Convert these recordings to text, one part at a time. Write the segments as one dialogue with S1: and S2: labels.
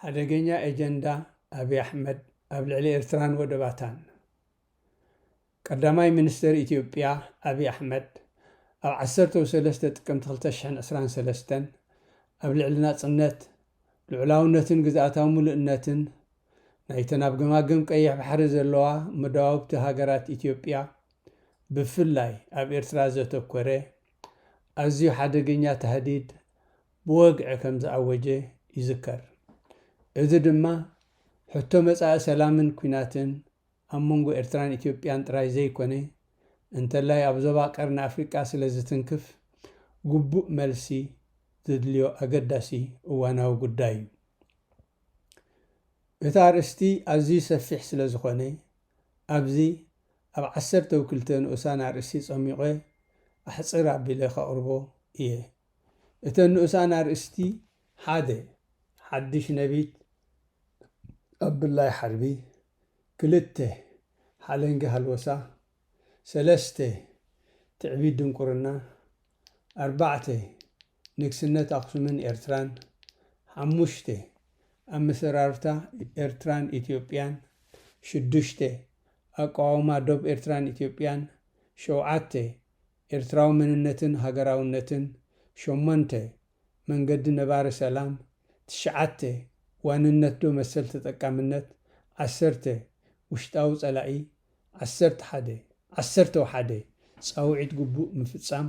S1: ሓደገኛ ኤጀንዳ ኣብይ ኣሕመድ ኣብ ልዕሊ ኤርትራን ወደባታን። ቀዳማይ ሚኒስተር ኢትዮጵያ ኣብይ ኣሕመድ ኣብ ዓሰርተው ሰለስተ ጥቅምቲ ክልተ ሽሕን ዕስራን ሰለስተን ኣብ ልዕሊ ናጽነት፣ ልዑላውነትን ግዝኣታዊ ምሉእነትን ናይተን ኣብ ገማግም ቀይሕ ባሕሪ ዘለዋ መዳውብቲ ሃገራት ኢትዮጵያ ብፍላይ ኣብ ኤርትራ ዘተኮረ፣ ኣዝዩ ሓደገኛ ታህዲድ ብወግዒ ከም ዝኣወጀ ይዝከር። እዚ ድማ ሕቶ መጻኢ ሰላምን ኲናትን ኣብ መንጎ ኤርትራን ኢትዮጵያን ጥራይ ዘይኮነ፣ እንተላይ ኣብ ዞባ ቀርኒ ኣፍሪቃ ስለ ዝትንክፍ ግቡእ መልሲ ዘድልዮ ኣገዳሲ እዋናዊ ጉዳይ'ዩ። እቲ ኣርእስቲ ኣዝዩ ሰፊሕ ስለ ዝኾነ ኣብዚ ኣብ ዓሰርተው ክልተ ንኡሳን ኣርእስቲ ጸሚቝ ኣሕጽር ኣቢለ ከቕርቦ እየ። እተን ንኡሳን ኣርእስቲ ሓደ፣ ሓድሽ ነቢት ኣብ ብላይ ሓርቢ፣ ክልተ፣ ሓለንጊ ሃልወሳ፣ ሰለስተ፣ ትዕቢት ድንቍርና፣ ኣርባዕተ፣ ንግስነት ኣኽሱምን ኤርትራን፣ ሓሙሽተ፣ ኣመሰራርታ ኤርትራን ኢትዮጵያን፣ ሽዱሽተ፣ ኣቀዋውማ ዶብ ኤርትራን ኢትዮጵያን፣ ሸውዓተ፣ ኤርትራዊ መንነትን ሃገራውነትን፣ ሸሞንተ፣ መንገዲ ነባሪ ሰላም፣ ትሽዓተ፣ ዋንነትዶ መሰል ተጠቃምነት፣ ዓሰርተ፣ ውሽጣዊ ጸላኢ፣ ዓሰርተ ሓደ። ዓሰርተው ሓደ፣ ጻውዒት ግቡእ ምፍጻም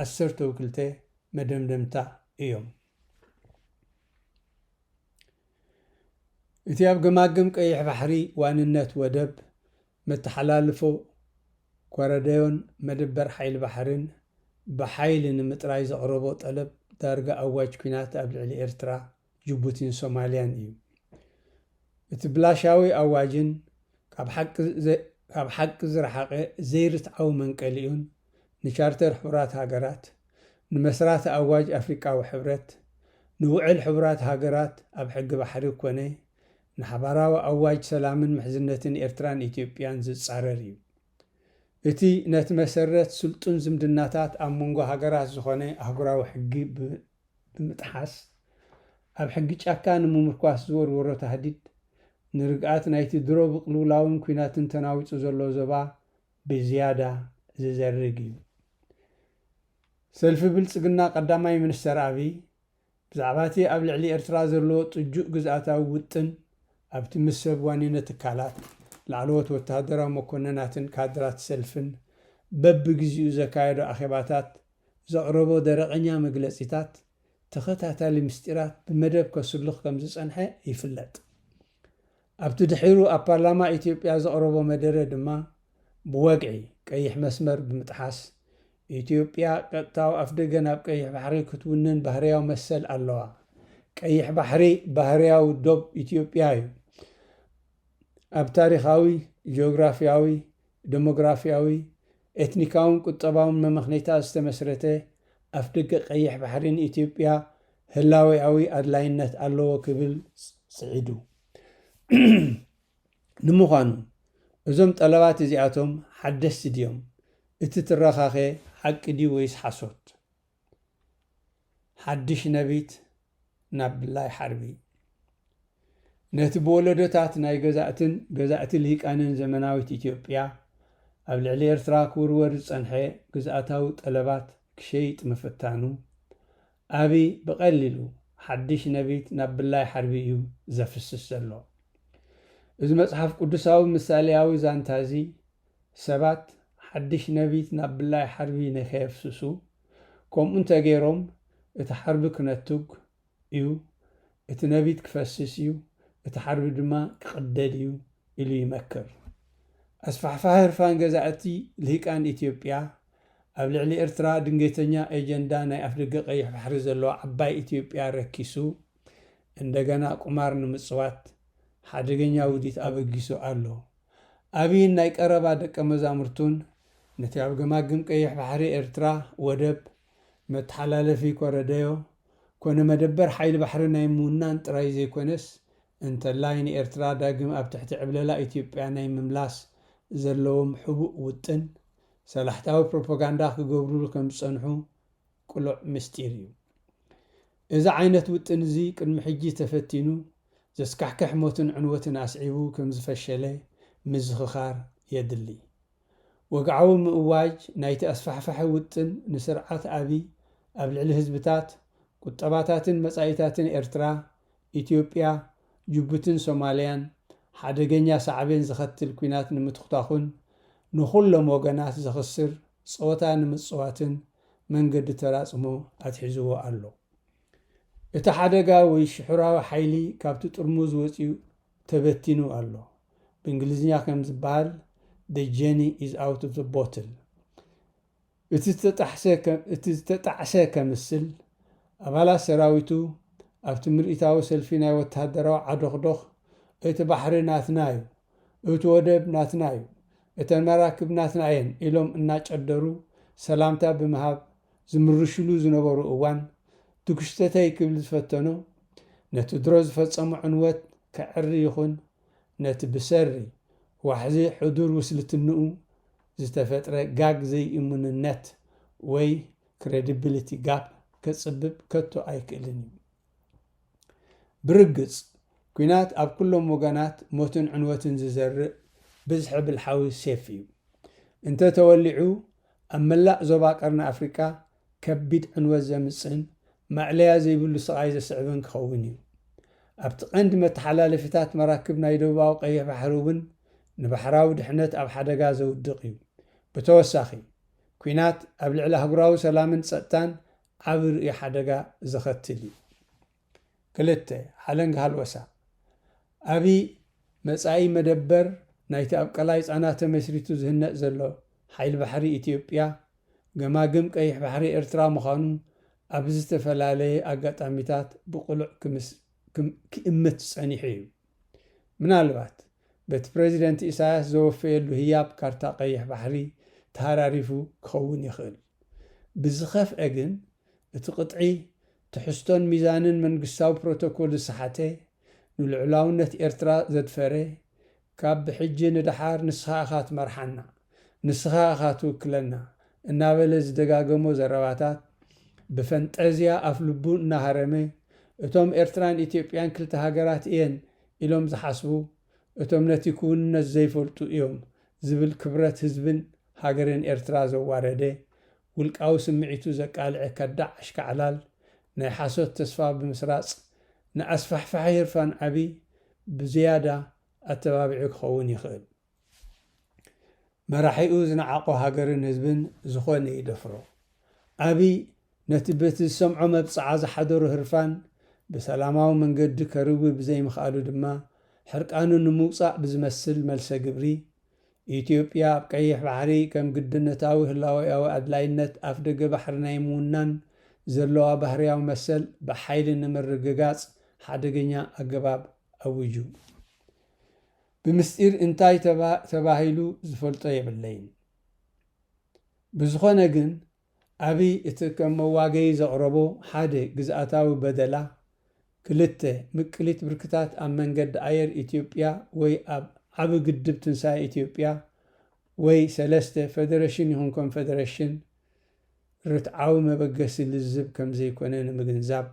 S1: ዓሰርተው ክልተ፣ መደምደምታ እዮም። እቲ ኣብ ገማግም ቀይሕ ባሕሪ ዋንነት ወደብ፣ መተሓላልፎ ኮረደዮን መደበር ሓይሊ ባሕሪን ብሓይሊ ንምጥራይ ዘቕረቦ ጠለብ ዳርጋ ኣዋጅ ኲናት ኣብ ልዕሊ ኤርትራ ጅቡቲን ሶማልያን እዩ። እቲ ብላሻዊ ኣዋጅን ካብ ሓቂ ዝረሓቐ ዘይርትዓዊ መንቀሊኡን ንቻርተር ሕቡራት ሃገራት፣ ንመስራቲ ኣዋጅ ኣፍሪቃዊ ሕብረት፣ ንውዕል ሕቡራት ሃገራት ኣብ ሕጊ ባሕሪ ኮነ ንሓባራዊ ኣዋጅ ሰላምን ምሕዝነትን ኤርትራን ኢትዮጵያን ዝጻረር እዩ። እቲ ነቲ መሰረት ስልጡን ዝምድናታት ኣብ መንጎ ሃገራት ዝኾነ ኣህጉራዊ ሕጊ ብ። ብምጥሓስ ኣብ ሕጊ ጫካ ንምምርኳስ ዝወርወሮ ታህዲድ፣ ንርግኣት ናይቲ ድሮ ብቅልውላውን ኲናትን ተናዊጹ ዘሎ ዞባ ብዝያዳ ዝዘርግ እዩ። ሰልፊ ብልጽግና ቀዳማይ ሚኒስተር ኣብይ፣ ብዛዕባ'ቲ ኣብ ልዕሊ ኤርትራ ዘለዎ ጥጁእ ግዝኣታዊ ውጥን፣ ኣብቲ ምስ ሰብ ዋኒነት ትካላት፣ ላዕለዎት ወተሃደራዊ መኮነናትን ካድራት ሰልፍን በብግዜኡ ዘካየዶ ኣኼባታት ዘቕረቦ ደረቐኛ መግለጺታት ተኸታታሊ ምስጢራት ብመደብ ከስሉኽ ከምዝጸንሐ ይፍለጥ። ኣብቲ ድሒሩ ኣብ ፓርላማ ኢትዮጵያ ዘቕረቦ መደረ ድማ ብወግዒ ቀይሕ መስመር ብምጥሓስ ኢትዮጵያ ቀጥታዊ ኣፍደገ ናብ ቀይሕ ባሕሪ ክትውንን ባህርያዊ መሰል ኣለዋ፣ ቀይሕ ባሕሪ ባህርያዊ ዶብ ኢትዮጵያ እዩ፣ ኣብ ታሪኻዊ፣ ጂኦግራፍያዊ፣ ደሞግራፍያዊ፣ ኤትኒካውን ቁጠባውን መመኽኔታት ዝተመስረተ ኣፍደገ ቀይሕ ባሕሪ ንኢትዮጵያ ህላዌኣዊ ኣድላይነት ኣለዎ ክብል ስዒዱ። ንምዃኑ እዞም ጠለባት እዚኣቶም ሓደስቲ ድዮም? እቲ ትረኻኸ ሓቂ ድዩ ወይስ ሓሶት? ሓድሽ ነቢት ናብ ብላይ ሓርቢ። ነቲ ብወለዶታት ናይ ገዛእትን ገዛእቲ ልሂቃንን ዘመናዊት ኢትዮጵያ ኣብ ልዕሊ ኤርትራ ክውርወር ዝጸንሐ ግዝኣታዊ ጠለባት ክሸይጥ ምፍታኑ፣ ኣብይ ብቐሊሉ ሓድሽ ነቢት ናብ ብላይ ሓርቢ እዩ ዘፍስስ ዘሎ። እዚ መጽሓፍ ቅዱሳዊ ምሳሌያዊ ዛንታ'ዚ፣ ሰባት ሓድሽ ነቢት ናብ ብላይ ሓርቢ ንከየፍስሱ፣ ከምኡ እንተ ገይሮም እቲ ሓርቢ ክነቱግ እዩ፣ እቲ ነቢት ክፈስስ እዩ፣ እቲ ሓርቢ ድማ ክቕደድ እዩ ኢሉ ይመክር። ኣስፋሕፋሒ ህርፋን ገዛእቲ ልሂቃን ኢትዮጵያ፣ ኣብ ልዕሊ ኤርትራ ድንገተኛ ኤጀንዳ ናይ ኣፍደገ ቀይሕ ባሕሪ ዘለዋ ዓባይ ኢትዮጵያ ረኪሱ፣ እንደገና ቁማር ንምጽዋት ሓደገኛ ውዲት ኣበጊሱ ኣሎ። ኣብይን ናይ ቀረባ ደቀ መዛሙርቱን ነቲ ኣብ ገማግም ቀይሕ ባሕሪ ኤርትራ ወደብ፣ መተሓላለፊ ኮረደዮ፣ ኮነ መደበር ሓይሊ ባሕሪ ናይ ምውናን ጥራይ ዘይኮነስ እንተላይ ንኤርትራ ዳግም ኣብ ትሕቲ ዕብለላ ኢትዮጵያ ናይ ምምላስ ዘለዎም ሕቡእ ውጥን ሰላሕታዊ ፕሮፖጋንዳ ክገብሩሉ ከም ዝጸንሑ ቅሉዕ ምስጢር እዩ። እዚ ዓይነት ውጥን እዚ ቅድሚ ሕጂ ተፈቲኑ ዘስካሕክሕ ሞትን ዕንወትን ኣስዒቡ ከም ዝፈሸለ ምዝኽኻር የድሊ። ወግዓዊ ምእዋጅ ናይቲ ኣስፋሕፋሒ ውጥን ንስርዓት ኣብይ ኣብ ልዕሊ ህዝብታት፣ ቁጠባታትን መጻኢታትን ኤርትራ፣ ኢትዮጵያ፣ ጅቡትን ሶማልያን ሓደገኛ ሳዕቤን ዘኸትል ኲናት ንምትኹታኹን ንኹሎም ወገናት ዘኽስር ጸወታ ንምጽዋትን መንገዲ ተራጽሞ ኣትሒዝዎ ኣሎ። እቲ ሓደጋ ወይ ሽሑራዊ ሓይሊ ካብቲ ጥርሙዝ ወጺኡ ተበቲኑ ኣሎ። ብእንግሊዝኛ ከም ዝበሃል The genie is out of the bottle። እቲ ዝተጣሕሰ ከምስል፣ ኣባላት ሰራዊቱ ኣብቲ ምርኢታዊ ሰልፊ ናይ ወተሃደራዊ ዓዶኽዶኽ እቲ ባሕሪ ናትና'ዩ! እቲ ወደብ ናትና እዩ፣ እተን መራክብ ናትና እየን ኢሎም እናጨደሩ ሰላምታ ብምሃብ ዝምርሹሉ ዝነበሩ እዋን፣ ድኩሽተተይ ክብል ዝፈተኖ፣ ነቲ ድሮ ዝፈጸሞ ዕንወት ከዐሪ ይኹን ነቲ ብሰሪ ዋሕዚ ሕዱር ውስልትንኡ ዝተፈጥረ ጋግ ዘይእሙንነት ወይ Credibility Gap ከጽብብ ከቶ ኣይክእልን እዩ። ብርግጽ፣ ኲናት ኣብ ኩሎም ወገናት ሞትን ዕንወትን ዝዘርእ ብዝሒ ብልሓዊ ሴፍ እዩ። እንተ ተወሊዑ፣ ኣብ መላእ ዞባ ቀርኒ ኣፍሪቃ ከቢድ ዕንወት ዘምጽእን ማእለያ ዘይብሉ ስቓይ ዘስዕብን ክኸውን እዩ። ኣብቲ ቀንዲ መተሓላለፊታት መራክብ ናይ ደቡባዊ ቀይሕ ባሕሪ እውን ንባሕራዊ ድሕነት ኣብ ሓደጋ ዘውድቕ እዩ። ብተወሳኺ፣ ኲናት ኣብ ልዕሊ ኣህጉራዊ ሰላምን ጸጥታን ዓቢ ርእይ ሓደጋ ዘኸትል እዩ። ክልተ፣ ሓለንጊ ሃልወሳ፣ ኣብይ መጻኢ መደበር ናይቲ ኣብ ቀላይ ጻና ተመስሪቱ ዝህነጽ ዘሎ ሓይሊ ባሕሪ ኢትዮጵያ፣ ገማግም ቀይሕ ባሕሪ ኤርትራ ምዃኑ ኣብ ዝተፈላለየ ኣጋጣሚታት ብቕሉዕ ክእምት ጸኒሑ እዩ። ምናልባት በቲ ፕረዚደንት ኢሳያስ ዘወፈየሉ ህያብ ካርታ ቀይሕ ባሕሪ ተሃራሪፉ ክኸውን ይኽእል። ብዝኸፍኤ ግን እቲ ቅጥዒ ትሕዝቶን ሚዛንን መንግስታዊ ፕሮቶኮል ዝሰሓተ፣ ንልዑላውነት ኤርትራ ዘድፈረ፣ ካብ ብሕጂ ንደሓር ንስኻ ኢኻ ትመርሓና! ንስኻ ኢኻ ትውክለና እናበለ ዝደጋገሞ ዘረባታት፣ ብፈንጠዝያ ኣፍልቡ እናሃረመ፣ እቶም ኤርትራን ኢትዮጵያን ክልተ ሃገራት እየን ኢሎም ዝሓስቡ፣ እቶም ነቲ ክውንነት ዘይፈልጡ እዮም ዝብል ክብረት ህዝብን ሃገርን ኤርትራ ዘዋረደ፣ ውልቃዊ ስምዒቱ ዘቃልዐ ከዳዕ ኣሽካዕላል፣ ናይ ሓሶት ተስፋ ብምስራጽ፣ ንኣስፋሕፋሒ ህርፋን ዓቢ ብዝያዳ ኣተባቢዑ ክኸውን ይኽእል። መራሒኡ ዝነዓቖ ሃገርን ህዝብን ዝኾነ ይደፍሮ። ኣብይ ነቲ በቲ ዝሰምዖ መብጽዓ ዝሓደሮ ህርፋን ብሰላማዊ መንገዲ ከርዊ ብዘይምኽኣሉ ድማ ሕርቃኑ ንምውጻእ ብዝመስል መልሰ ግብሪ፣ ኢትዮጵያ ኣብ ቀይሕ ባሕሪ ከም ግድነታዊ ህላዌኣዊ ኣድላይነት ኣፍደገ ባሕሪ ናይ ምውናን ዘለዋ ባህርያዊ መሰል ብሓይሊ ንምርግጋጽ ሓደገኛ ኣገባብ ኣዊጁ። ብምስጢር እንታይ ተባሂሉ ዝፈልጦ የብለይን። ብዝኾነ ግን ኣብይ እቲ ከም መዋገዪ ዘቕረቦ ሓደ ግዝኣታዊ በደላ፣ ክልተ ምቅሊት ብርክታት ኣብ መንገዲ ኣየር ኢትዮጵያ ወይ ኣብ ዓቢ ግድብ ትንሳኤ ኢትዮጵያ ወይ ሰለስተ ፈደረሽን ይኹን ኮንፈደረሽን ርትዓዊ መበገሲ ልዝብ ከምዘይኮነ ንምግንዛብ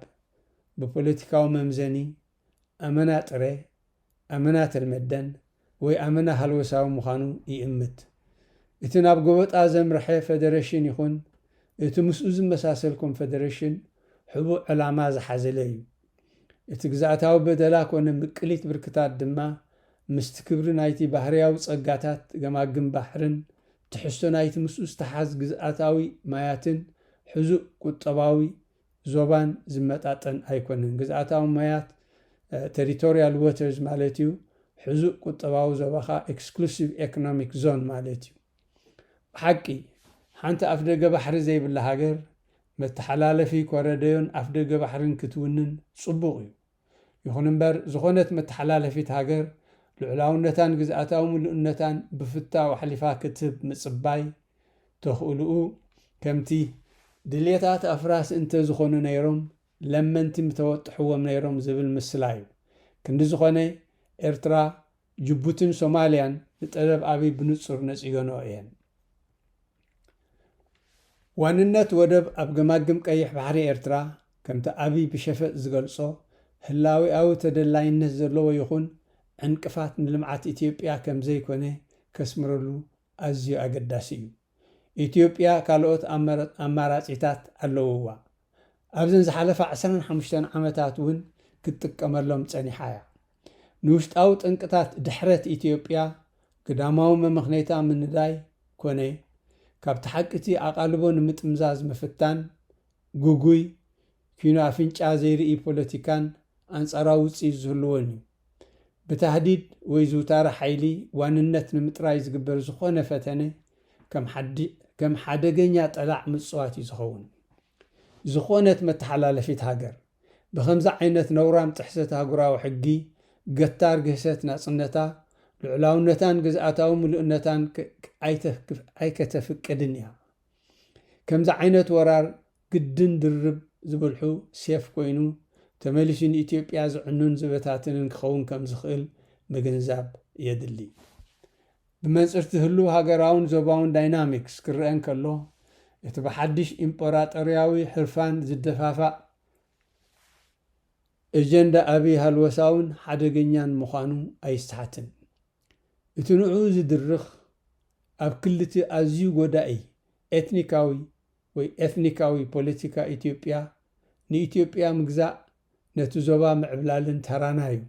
S1: ብፖለቲካዊ መምዘኒ ኣመና ጥረ፣ ኣመና ተልመደን ወይ ኣመና ሃልወሳዊ ምዃኑ ይእምት። እቲ ናብ ጎበጣ ዘምርሐ ፈደረሽን ይኹን እቲ ምስኡ ዝመሳሰል ኮንፈደረሽን ሕቡእ ዕላማ ዝሓዘለ እዩ። እቲ ግዝኣታዊ በደላ ኮነ ምቅሊት ብርክታት ድማ ምስቲ ክብሪ ናይቲ ባህርያዊ ጸጋታት ገማግም ባሕርን ትሕዝቶ ናይቲ ምስኡ ዝተሓዝ ግዝኣታዊ ማያትን ሕዙእ ቁጠባዊ ዞባን ዝመጣጠን ኣይኮነን። ግዝኣታዊ ማያት፣ Territorial Waters፣ ማለት'ዩ፣ ሕዙእ ቁጠባዊ ዞባ ከኣ Exclusive Economic Zone ማለት'ዩ። ብሓቂ፣ ሓንቲ ኣፍደገ ባሕሪ ዘይብላ ሃገር፣ መተሓላለፊ ኮረደዮን ኣፍደገ ባሕሪን ክትውንን ጽቡቕ'ዩ። ይኹን እምበር ዝኾነት መተሓላለፊት ሃገር ልዑላውነታን ግዝኣታዊ ምሉእነታን ብፍታው ኣሕሊፋ ክትህብ ምጽባይ ተኽእልኡ ከምቲ ድልየታት ኣፍራስ እንተ ዝኾኑ ነይሮም ለመንቲ ምተወጥሕዎም ነይሮም ዝብል ምስላ እዩ። ክንዲ ዝኾነ ኤርትራ ጅቡቲን ሶማልያን ንጠለብ ኣብይ ብንጹር ነጺገንኦ እየን። ዋንነት ወደብ ኣብ ገማግም ቀይሕ ባሕሪ ኤርትራ፣ ከምቲ ኣብይ ብሸፈጥ ዝገልጾ፣ ህላዌኣዊ ተደላይነት ዘለዎ ይኹን ዕንቅፋት ንልምዓት ኢትዮጵያ ከምዘይኮነ ከስምረሉ ኣዝዩ ኣገዳሲ እዩ። ኢትዮጵያ ካልኦት ኣማራጺታት ኣለዉዋ። ኣብዘን ዝሓለፋ ዕስራን ሓሙሽተን ዓመታት እውን ክትጥቀመሎም ጸኒሓ እያ። ንውሽጣዊ ጠንቅታት ድሕረት ኢትዮጵያ ግዳማዊ መመኽነይታ ምንዳይ ኮነ ካብቲ ሓቂ'ቲ ኣቓልቦ ንምጥምዛዝ ምፍታን ግጉይ ኲይኑ ኣፍንጫ ዘይርኢ ፖለቲካን ኣንጻራዊ ውጽኢት ዝህልዎን እዩ። ብታህዲድ ወይ ዝውታረ ሓይሊ ዋንነት ንምጥራይ ዝግበር ዝኾነ ፈተነ ከም ሓደገኛ ጠላዕ ምጽዋት እዩ ዝኸውን። ዝኾነት መተሓላለፊት ሃገር፣ ብኸምዚ ዓይነት ነውራም ጥሕሰት ኣህጉራዊ ሕጊ፣ ገታር ግህሰት ናጽነታ፣ ልዑላውነታን ግዝኣታዊ ምሉእነታን ኣይከተፍቅድን እያ። ከምዚ ዓይነት ወራር ግድን ድርብ ዝብልሑ ሴፍ ኮይኑ ተመሊሱ ንኢትዮጵያ ዝዕኑን ዝበታትንን ክኸውን ከም ዝኽእል ምግንዛብ የድሊ። ብመንጽርቲ ህሉው ሃገራውን ዞባውን ዳይናሚክስ ክረኣ እንከሎ፣ እቲ ብሓድሽ ኢምጰራጦርያዊ ህርፋን ዝደፋፋእ ኤጀንዳ ኣቢይ ሃልወሳውን ሓደገኛን ምዃኑ ኣይሰሓትን። እቲ ንዕኡ ዝድርኽ ኣብ ክሊቲ ኣዝዩ ጎዳኢ ኤትኒካዊ ወይ ኤትኒካዊ ፖለቲካ ኢትዮጵያ ንኢትዮጵያ ምግዛእ ነቲ ዞባ ምዕብላልን ተራና እዩ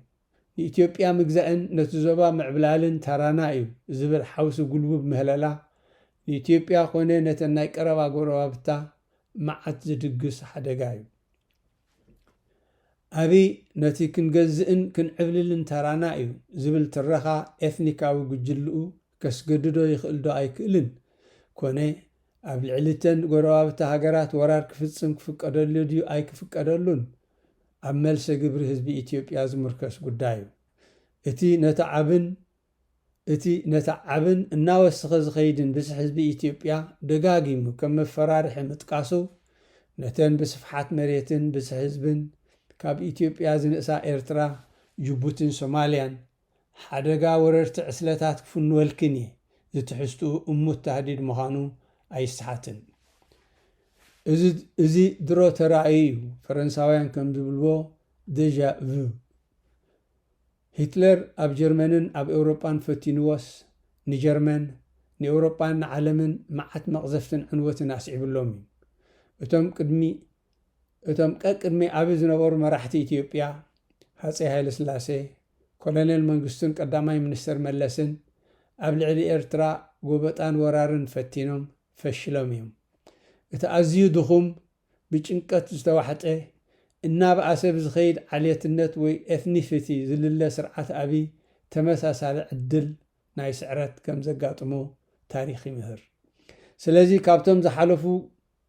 S1: ንኢትዮጵያ ምግዛእን ነቲ ዞባ ምዕብላልን ተራና እዩ ዝብል ሓውሲ ጉልቡብ ምህለላ ንኢትዮጵያ ኮነ ነተን ናይ ቀረባ ጎረባብታ መዓት ዝድግስ ሓደጋ እዩ። ኣብይ ነቲ ክንገዝእን ክንዕብልልን ተራና እዩ ዝብል ትረኻ ኤትኒካዊ ጉጅልኡ ከስገድዶ ይኽእል ዶ ኣይክእልን? ኮነ ኣብ ልዕሊ'ተን ጎረባብቲ ሃገራት ወራር ክፍጽም ክፍቀደሉ ድዩ ኣይክፍቀደሉን ኣብ መልሰ ግብሪ ህዝቢ ኢትዮጵያ ዝምርኮስ ጉዳይ'ዩ። እቲ ነቲ ዓብን እቲ ነቲ ዓብን እናወሰኸ ዝኸይድን ብዝሒ ህዝቢ ኢትዮጵያ ደጋጊሙ ከም መፈራርሒ ምጥቃሱ፣ ነተን ብስፍሓት መሬትን ብዝሒ ህዝብን ካብ ኢትዮጵያ ዝንእሳ ኤርትራ፣ ጅቡቲን ሶማልያን፣ ሓደጋ ወረርቲ ዕስለታት ክፍንወልክን እየ ዝትሕዝትኡ እሙት ታህዲድ ምዃኑ ኣይሰሓትን። እዚ እዚ ድሮ ተራእዩ እዩ፣ ፈረንሳውያን ከም ዝብልዎ፣ Deja Vu። ሂትለር ኣብ ጀርመንን ኣብ ኤውሮጳን ፈቲንዎስ፣ ንጀርመን፣ ንኤውሮጳን ንዓለምን መዓት መቕዘፍትን ዕንወትን ኣስዒብሎም እዩ። እቶም ቅድሚ እቶም ቀቅድሚ ኣብይ ዝነበሩ መራሕቲ ኢትዮጵያ፣ ሃጸይ ሃይለስላሴ፣ ኮሎኔል መንግስቱን ቀዳማይ ሚኒስተር መለስን፣ ኣብ ልዕሊ ኤርትራ ጎበጣን ወራርን ፈቲኖም ፈሽሎም እዮም። እቲ ኣዝዩ ድኹም ብጭንቀት ዝተዋሕጠ፣ እናበኣሰ ብዝኸይድ ዓሌትነት ወይ ኤትኒሲቲ ዝልለ ስርዓት ኣብይ ተመሳሳሊ ዕድል ናይ ስዕረት ከም ዘጋጥሞ ታሪኽ ይምህር። ስለዚ ካብቶም ዝሓለፉ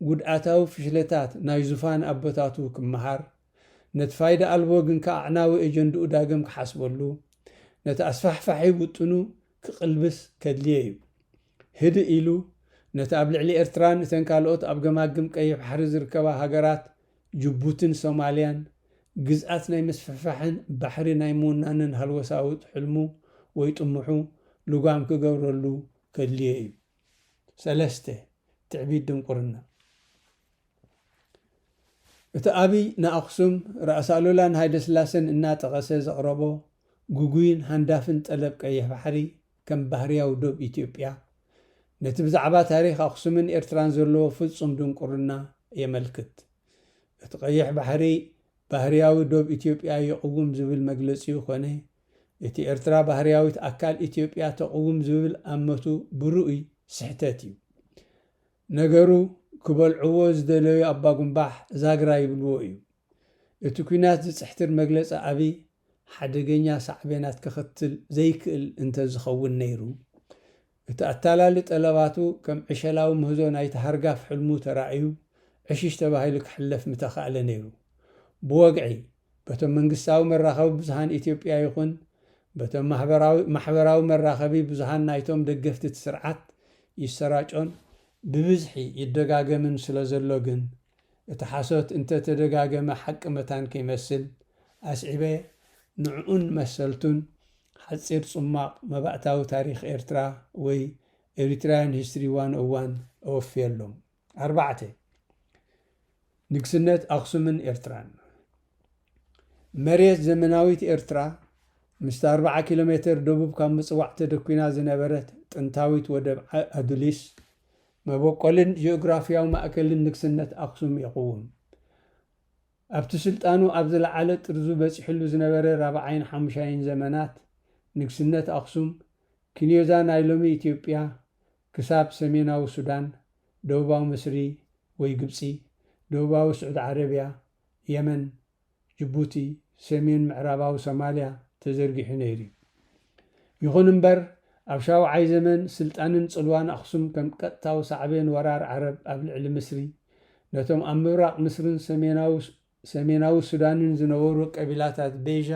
S1: ጉድኣታዊ ፍሽለታት ናይ ዙፋን ኣቦታቱ ክመሃር፣ ነቲ ፋይዳ ኣልቦ ግንከ ኣዕናዊ ኤጀንድኡ ዳግም ክሓስበሉ፣ ነቲ ኣስፋሕፋሒ ውጥኑ ክቕልብስ ከድልዬ እዩ። ህድእ ኢሉ ነቲ ኣብ ልዕሊ ኤርትራን እተን ካልኦት ኣብ ገማግም ቀይሕ ባሕሪ ዝርከባ ሃገራት ጅቡትን ሶማልያን ግዝኣት ናይ ምስፍሕፋሕን ባሕሪ ናይ ምውናንን ሃልወሳውት ሕልሙ ወይ ጥሙሑ ልጓም ክገብረሉ ከድልዬ እዩ። ሰለስተ፣ ትዕቢት ድንቁርና እቲ ኣብይ ንኣኽሱም ራእሲ ኣሉላን ሃይለስላሰን እናጠቐሰ ዘቕረቦ ግጉይን ሃንዳፍን ጠለብ ቀይሕ ባሕሪ ከም ባህርያዊ ዶብ ኢትዮጵያ ነቲ ብዛዕባ ታሪኽ ኣኽሱምን ኤርትራን ዘለዎ ፍጹም ድንቁርና የመልክት። እቲ ቀይሕ ባሕሪ ባህርያዊ ዶብ ኢትዮጵያ ይቕውም ዝብል መግለጺኡ ኮነ እቲ ኤርትራ ባህርያዊት ኣካል ኢትዮጵያ ተቕውም ዝብል ኣመቱ ብርኡይ ስሕተት እዩ። ነገሩ ክበልዕዎ ዝደለዩ ኣባጉምባሕ ዛግራ ይብልዎ እዩ። እቲ ኲናት ዝጽሕትር መግለጺ ኣብይ ሓደገኛ ሳዕቤናት ከኸትል ዘይክእል እንተዝኸውን ነይሩ እቲ ኣታላሊ ጠለባቱ ከም ዕሸላዊ ምህዞ ናይቲ ሃርጋፍ ሕልሙ ተራእዩ ዕሽሽ ተባሂሉ ክሕለፍ ምተኻእለ ነይሩ። ብወግዒ፣ በቶም መንግስታዊ መራኸቢ ብዙሃን ኢትዮጵያ ይኹን በቶም ማሕበራዊ ማሕበራዊ መራኸቢ ብዙሃን ናይቶም ደገፍቲ እቲ ስርዓት ይሰራጮን ብብዝሒ ይደጋገምን ስለዘሎ ግን፣ እቲ ሓሶት እንተ ተደጋገመ ሓቂ መታን ከይመስል ኣስዒበ ንዕኡን መሰልቱን ሓጺር ጹማቕ መባእታዊ ታሪኽ ኤርትራ ወይ Eritrean History 101 እወፍየሎም። ኣርባዕተ። ንግስነት ኣኽሱምን ኤርትራን። መሬት ዘመናዊት ኤርትራ ምስታ ኣርብዓ ኪሎ ሜተር ደቡብ ካብ ምጽዋዕ ተደኲና ዝነበረት ጥንታዊት ወደብ ኣዱሊስ መበቆልን ጂኦግራፊያዊ ማእከልን ንግስነት ኣኽሱም የቕውም። ኣብቲ ስልጣኑ ኣብ ዝለዓለ ጥርዙ በጺሕሉ ዝነበረ ራብዓይን ሓሙሻይን ዘመናት ንግስነት ኣኽሱም፣ ክንዮዛ ናይ ሎሚ ኢትዮጵያ ክሳብ ሰሜናዊ ሱዳን፣ ደቡባዊ ምስሪ ወይ ግብጺ፣ ደቡባዊ ስዑድ ዓረብያ፣ የመን፣ ጅቡቲ፣ ሰሜን ምዕራባዊ ሶማልያ ተዘርጊሑ ነይሩ እዩ። ይኹን እምበር ኣብ ሻውዓይ ዘመን ስልጣንን ጽልዋን ኣኽሱም ከም ቀጥታዊ ሳዕቤን ወራር ዓረብ ኣብ ልዕሊ ምስሪ፣ ነቶም ኣብ ምብራቕ ምስርን ሰሜናዊ ሰሜናዊ ሱዳንን ዝነበሩ ቀቢላታት ቤዣ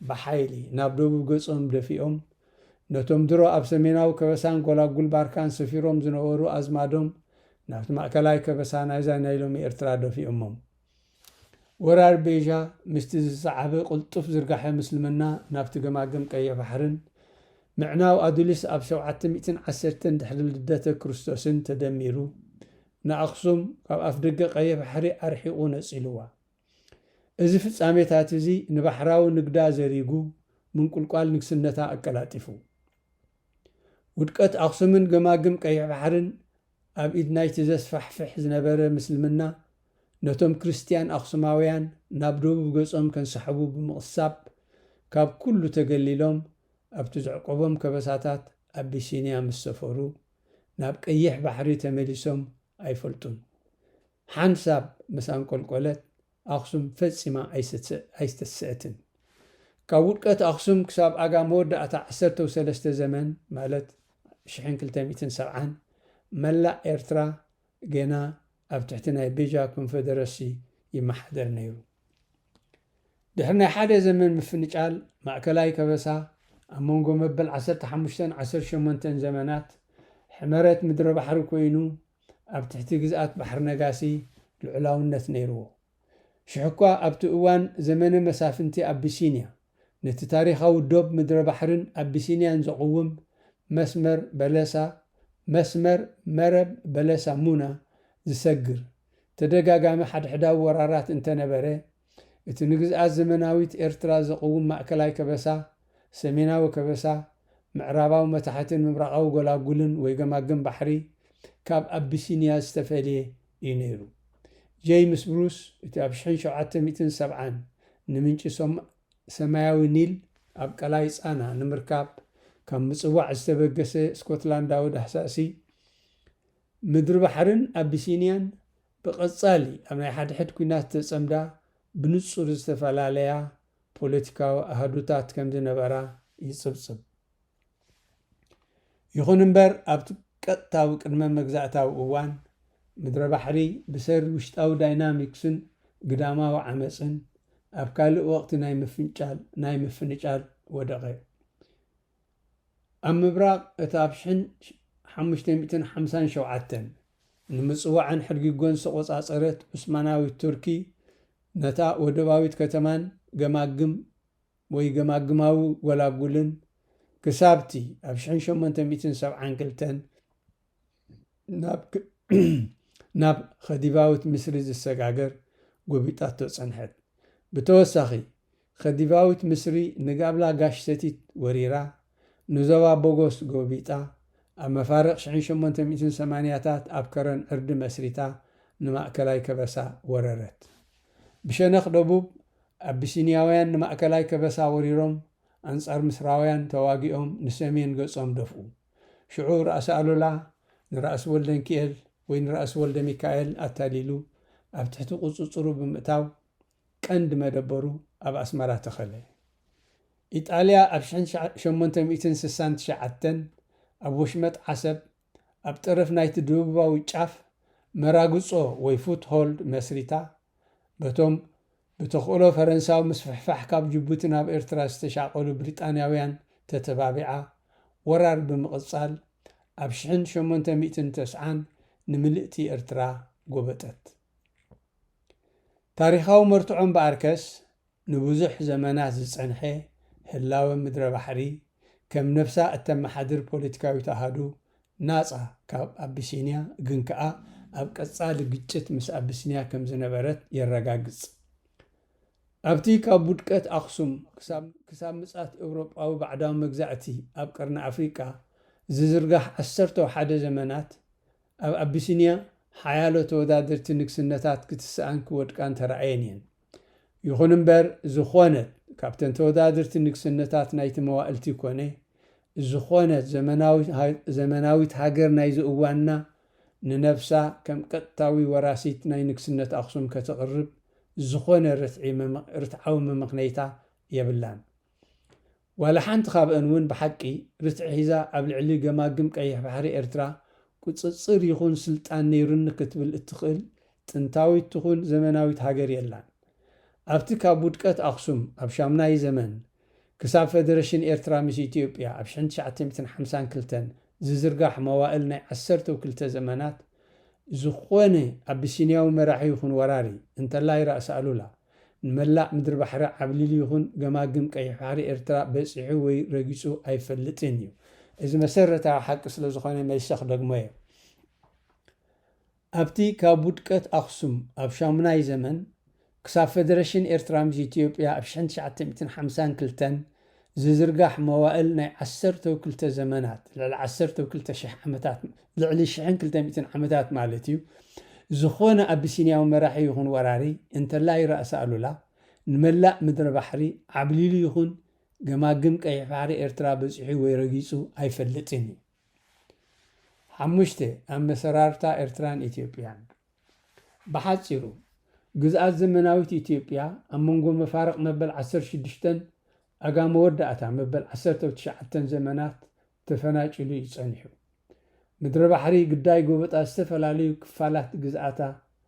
S1: ብሓይሊ ናብ ደቡብ ገጾም ደፊኦም፣ ነቶም ድሮ ኣብ ሰሜናዊ ከበሳን ጎላጉል ባርካን ሰፊሮም ዝነበሩ ኣዝማዶም ናብቲ ማእከላይ ከበሳ ናይዛ ናይ ሎሚ ኤርትራ ደፊኦሞም። ወራር ቤዣ ምስቲ ዝሰዓበ ቅልጡፍ ዝርጋሐ ምስልምና ናብቲ ገማግም ቀይሕ ባሕርን፣ ምዕናው ኣዱሊስ ኣብ ሸውዓተ ሚእትን ዓሰርተን ድሕሪ ልደተ ክርስቶስን ተደሚሩ፣ ንኣኽሱም ካብ ኣፍደገ ቀይሕ ባሕሪ ኣርሒቑ ነጺልዋ። እዚ ፍጻሜታት እዚ ንባሕራዊ ንግዳ ዘሪጉ፣ ምንቁልቋል ንግስነታ ኣቀላጢፉ። ውድቀት ኣኽሱምን ገማግም ቀይሕ ባሕርን ኣብ ኢድ ናይቲ ዘስፋሕፍሕ ዝነበረ ምስልምና፣ ነቶም ክርስትያን ኣኽሱማውያን ናብ ደቡብ ገጾም ከንሳሕቡ ብምቕሳብ፣ ካብ ኩሉ ተገሊሎም ኣብቲ ዘዕቆቦም ከበሳታት ኣቢሲንያ ምስ ሰፈሩ፣ ናብ ቀይሕ ባሕሪ ተመሊሶም ኣይፈልጡን። ሓንሳብ ምስ ኣንቆልቆለት፣ ኣኽሱም ፈጺማ ኣይስተስዕትን። ካብ ውድቀት ኣኽሱም ክሳብ ኣጋ መወዳእታ ዓሰርተው ሰለስተ ዘመን ማለት ሽሕን ክልተ ሚእትን ሰብዓን መላእ ኤርትራ ገና ኣብ ትሕቲ ናይ ቤጃ ኮንፈደረሲ ይመሓደር ነይሩ። ድሕሪ ናይ ሓደ ዘመን ምፍንጫል ማእከላይ ከበሳ ኣብ መንጎ መበል ዓሰርተ ሓሙሽተን ዓሰርተ ሸሞንተን ዘመናት ሕመረት ምድረባሕሪ ኮይኑ ኣብ ትሕቲ ግዝኣት ባሕሪ ነጋሲ ልዑላውነት ነይርዎ። ሽሕኳ ኣብቲ እዋን ዘመነ መሳፍንቲ ኣቢሲንያ ነቲ ታሪኻዊ ዶብ ምድረ ባሕርን ኣቢሲንያን ዘቕውም መስመር በለሳ፣ መስመር መረብ በለሳ-ሙና፣ ዝሰግር ተደጋጋሚ ሓድሕዳዊ ወራራት እንተነበረ፣ እቲ ንግዝኣት ዘመናዊት ኤርትራ ዘቕውም ማእከላይ ከበሳ፣ ሰሜናዊ ከበሳ፣ ምዕራባዊ መታሕትን ምብራቓዊ ጎላጉልን ወይ ገማግም ባሕሪ ካብ ኣቢሲንያ ዝተፈልየ እዩ ነይሩ። ጀይምስ ብሩስ እቲ ኣብ ሽሕን ሸውዓተ ሚእትን ሰብዓን ንምንጪ ሰማያዊ ኒል ኣብ ቀላይ ጻና ንምርካብ ካብ ምጽዋዕ ዝተበገሰ ስኮትላንዳዊ ዳህሳሲ ምድሪ ባሕርን ኣቢሲንያን ብቐጻሊ ኣብ ናይ ሓድሕድ ኲናት ዝተጸምዳ ብንጹር ዝተፈላለያ ፖለቲካዊ ኣሃዱታት ከም ዝነበራ ይጽብጽብ። ይኹን እምበር ኣብቲ ቀጥታዊ ቅድመ መግዛእታዊ እዋን፣ ምድረ ባሕሪ ብሰሪ ውሽጣዊ ዳይናሚክስን ግዳማዊ ዓመጽን ኣብ ካልእ ወቕቲ ናይ ምፍንጫል ናይ ምፍንጫል ወደቐ። ኣብ ምብራቕ እቲ ኣብ ሽሕን ሓሙሽተ ሚእትን ሓምሳን ሸውዓተን ንምጽዋዕን ሕድጊጎን ዝተቖጻጸረት ዑስማናዊት ቱርኪ፣ ነታ ወደባዊት ከተማን ገማግም ወይ ገማግማዊ ጎላጉልን ክሳብ'ቲ ኣብ ሽሕን ሸሞንተ ሚእትን ሰብዓን ክልተን፣ ናብ ኸዲቫዊት ምስሪ ዝሰጋገር ጎቢጣቶ ጸንሐት። ብተወሳኺ፣ ኸዲቫዊት ምስሪ ንጋብላ ጋሽ ሰቲት ወሪራ፣ ንዞባ ቦጎስ ጎቢጣ፣ ኣብ መፋርቕ ሽሕን ሸሞንተ ሚእትን ሰማንያታት ኣብ ከረን ዕርዲ መስሪታ ንማእከላይ ከበሳ ወረረት። ብሸነኽ ደቡብ፣ ኣቢሲንያውያን ንማእከላይ ከበሳ ወሪሮም ኣንጻር ምስራውያን ተዋጊኦም ንሰሜን ገጾም ደፍኡ። ሽዑ ራእሲ ኣሉላ ንራእሲ ወልደንኪኤል ወይ ንራእሲ ወልደሚካኤል ኣታሊሉ ኣብ ትሕቲ ቁጽጽሩ ብምእታው ቀንዲ መደበሩ ኣብ ኣስመራ ተኸለ። ኢጣልያ ኣብ ሽሕን ሸሞንተ ሚእትን ስሳን ትሽዓተን ኣብ ወሽመጥ ዓሰብ ኣብ ጠረፍ ናይቲ ድብቡባዊ ጫፍ መራግጾ ወይ ፉት ሆልድ መስሪታ በቶም ብተኽእሎ ፈረንሳዊ ምስፍሕፋሕ ካብ ጅቡቲ ናብ ኤርትራ ዝተሻቐሉ ብሪጣንያውያን ተተባቢዓ ወራር ብምቕጻል ኣብ ሽሕን ሸሞንተ ሚእትን ተስዓን ንምልእቲ ኤርትራ ጎበጠት። ታሪኻዊ መርትዖ እምበኣርከስ ንብዙሕ ዘመናት ዝጸንሐ ህላወ ምድረ ባሕሪ ከም ነብሳ እተመሓድር ፖለቲካዊት ኣሃዱ ናጻ ካብ ኣቢሲንያ ግን ከኣ ኣብ ቀጻሊ ግጭት ምስ ኣቢስንያ ከም ዝነበረት የረጋግጽ። ኣብቲ ካብ ውድቀት ኣኽሱም ክሳብ ምጽኣት ኤውሮጳዊ ባዕዳዊ መግዛእቲ ኣብ ቀርኒ ኣፍሪቃ ዝዝርጋሕ ዓሰርተው ሓደ ዘመናት፣ ኣብ ኣቢሲንያ ሓያሎ ተወዳደርቲ ንግስነታት ክትስኣን ክወድቃን ተራእየን እየን። ይኹን እምበር ዝኾነት ካብተን ተወዳድርቲ ንግስነታት ናይቲ መዋእልቲ ኮነ ዝኾነት ዘመናዊት ሃገር ናይዚ እዋንና ንነብሳ ከም ቀጥታዊ ወራሲት ናይ ንግስነት ኣኽሱም ከተቕርብ ዝኾነ ርትዓዊ መመኽነይታ የብላን። ዋላ ሓንቲ ካብኣን እውን ብሓቂ ርትዒ ሒዛ ኣብ ልዕሊ ገማግም ቀይሕ ባሕሪ ኤርትራ ቁጽጽር ይኹን ስልጣን ነይሩኒ ክትብል እትኽእል ጥንታዊት ትኹን ዘመናዊት ሃገር የላን። ኣብቲ ካብ ውድቀት ኣኽሱም ኣብ ሻሙናይ ዘመን ክሳብ ፈደረሽን ኤርትራ ምስ ኢትዮጵያ ኣብ ሽሕን ትሽዓተ ሚእትን ሓምሳን ክልተን ዝዝርጋሕ መዋእል ናይ ዓሰርተው ክልተ ዘመናት ዝኾነ ኣቢሲንያዊ መራሒ ይኹን ወራሪ እንተላይ ራእሲ ኣሉላ ንመላእ ምድሪ ባሕሪ ዓብሊሉ ይኹን ገማግም ቀይሕ ባሕሪ ኤርትራ በጺሑ ወይ ረጊጹ ኣይፈልጥን እዩ። እዚ መሰረታዊ ሓቂ ስለ ዝኾነ መልሰ ክደግሞ እየ። ኣብቲ ካብ ውድቀት ኣኽሱም ኣብ ሻሙናይ ዘመን ክሳብ ፈደረሽን ኤርትራ ምስ ኢትዮጵያ ኣብ ሽሕን ትሽዓተ ሚእትን ሓምሳን ክልተን፣ ዝዝርጋሕ መዋእል ናይ ዓሰርተው ክልተ ዘመናት፣ ልዕሊ ዓሰርተው ክልተ ሽሕ ዓመታት፣ ልዕሊ ሽሕን ክልተ ሚእትን ዓመታት ማለት እዩ፣ ዝኾነ ኣቢሲንያዊ መራሒ ይኹን ወራሪ፣ እንተላይ ራእሲ ኣሉላ፣ ንመላእ ምድረ ባሕሪ ዓብሊሉ ይኹን ገማግም ቀይሕ ባሕሪ ኤርትራ በጺሑ ወይ ረጊጹ ኣይፈልጥን እዩ። ሓሙሽተ፣ ኣመሰራርታ ኤርትራን ኢትዮጵያን። ብሓጺሩ፣ ግዝኣት ዘመናዊት ኢትዮጵያ፣ ኣብ መንጎ መፋርቕ መበል ዓሰርተ ሽዱሽተን ኣጋ መወዳእታ መበል ዓሰርተው ትሽዓተን ዘመናት ተፈናጭሉ እዩ ጸኒሑ። ምድረባሕሪ ግዳይ ጎበጣ ዝተፈላለዩ ክፋላት ግዝኣታ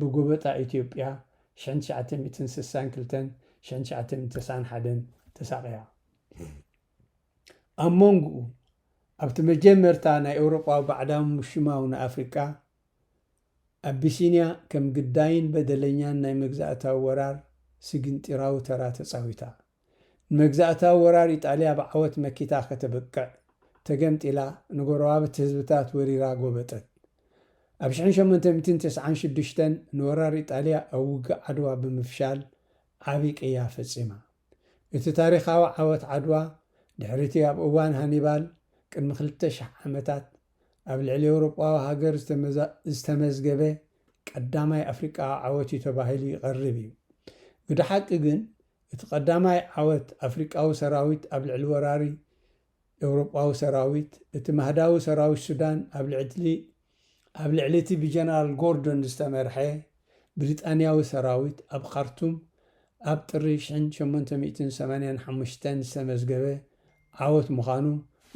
S1: ብጎበጣ ኢትዮጵያ ሽሕን ትሽዓተ ሚእትን ስሳን ክልተን ሽሕን ትሽዓተ ሚእትን ተስዓን ሓደን ተሳቕያ። ኣብ ሞንጉኡ፣ ኣብቲ መጀመርታ ናይ ኤውሮጳዊ ባዕዳዊ ምሽማው ንኣፍሪቃ፣ ኣቢሲንያ ከም ግዳይን በደለኛን ናይ መግዛእታዊ ወራር ስግንጢራዊ ተራ ተጻዊታ። ንመግዛእታዊ ወራር ኢጣልያ ብዓወት መኪታ ከተብቅዕ፣ ተገምጢላ፣ ንጎረባብቲ ህዝብታት ወሪራ ጎበጠት። ኣብ ሽሕን ሸሞንተ ሚእትን ተስዓን ሽዱሽተን ንወራር ኢጣልያ ኣብ ውግእ ዓድዋ ብምፍሻል ዓቢ ቅያ ፈጺማ። እቲ ታሪኻዊ ዓወት ዓድዋ፣ ድሕሪ'ቲ ኣብ እዋን ሃኒባል፣ ቅድሚ ክልተ ሽሕ ዓመታት፣ ኣብ ልዕሊ ኤውሮጳዊ ሃገር ዝተመዝገበ ቀዳማይ ኣፍሪቃዊ ዓወት'ዩ ተባሂሉ ይቐርብ እዩ። ግደ ሓቂ ግን እቲ ቀዳማይ ዓወት ኣፍሪቃዊ ሰራዊት ኣብ ልዕሊ ወራሪ ኤውሮጳዊ ሰራዊት፣ እቲ ማህዳዊ ሰራዊት ሱዳን ኣብ ልዕሊ ኣብ ልዕሊ እቲ ብጀነራል ጎርዶን ዝተመርሐ ብሪጣንያዊ ሰራዊት ኣብ ኻርቱም ኣብ ጥሪ ሽሕን ሸሞንተ ሚእትን ሰማንያን ሓሙሽተን ዝተመዝገበ ዓወት ምዃኑ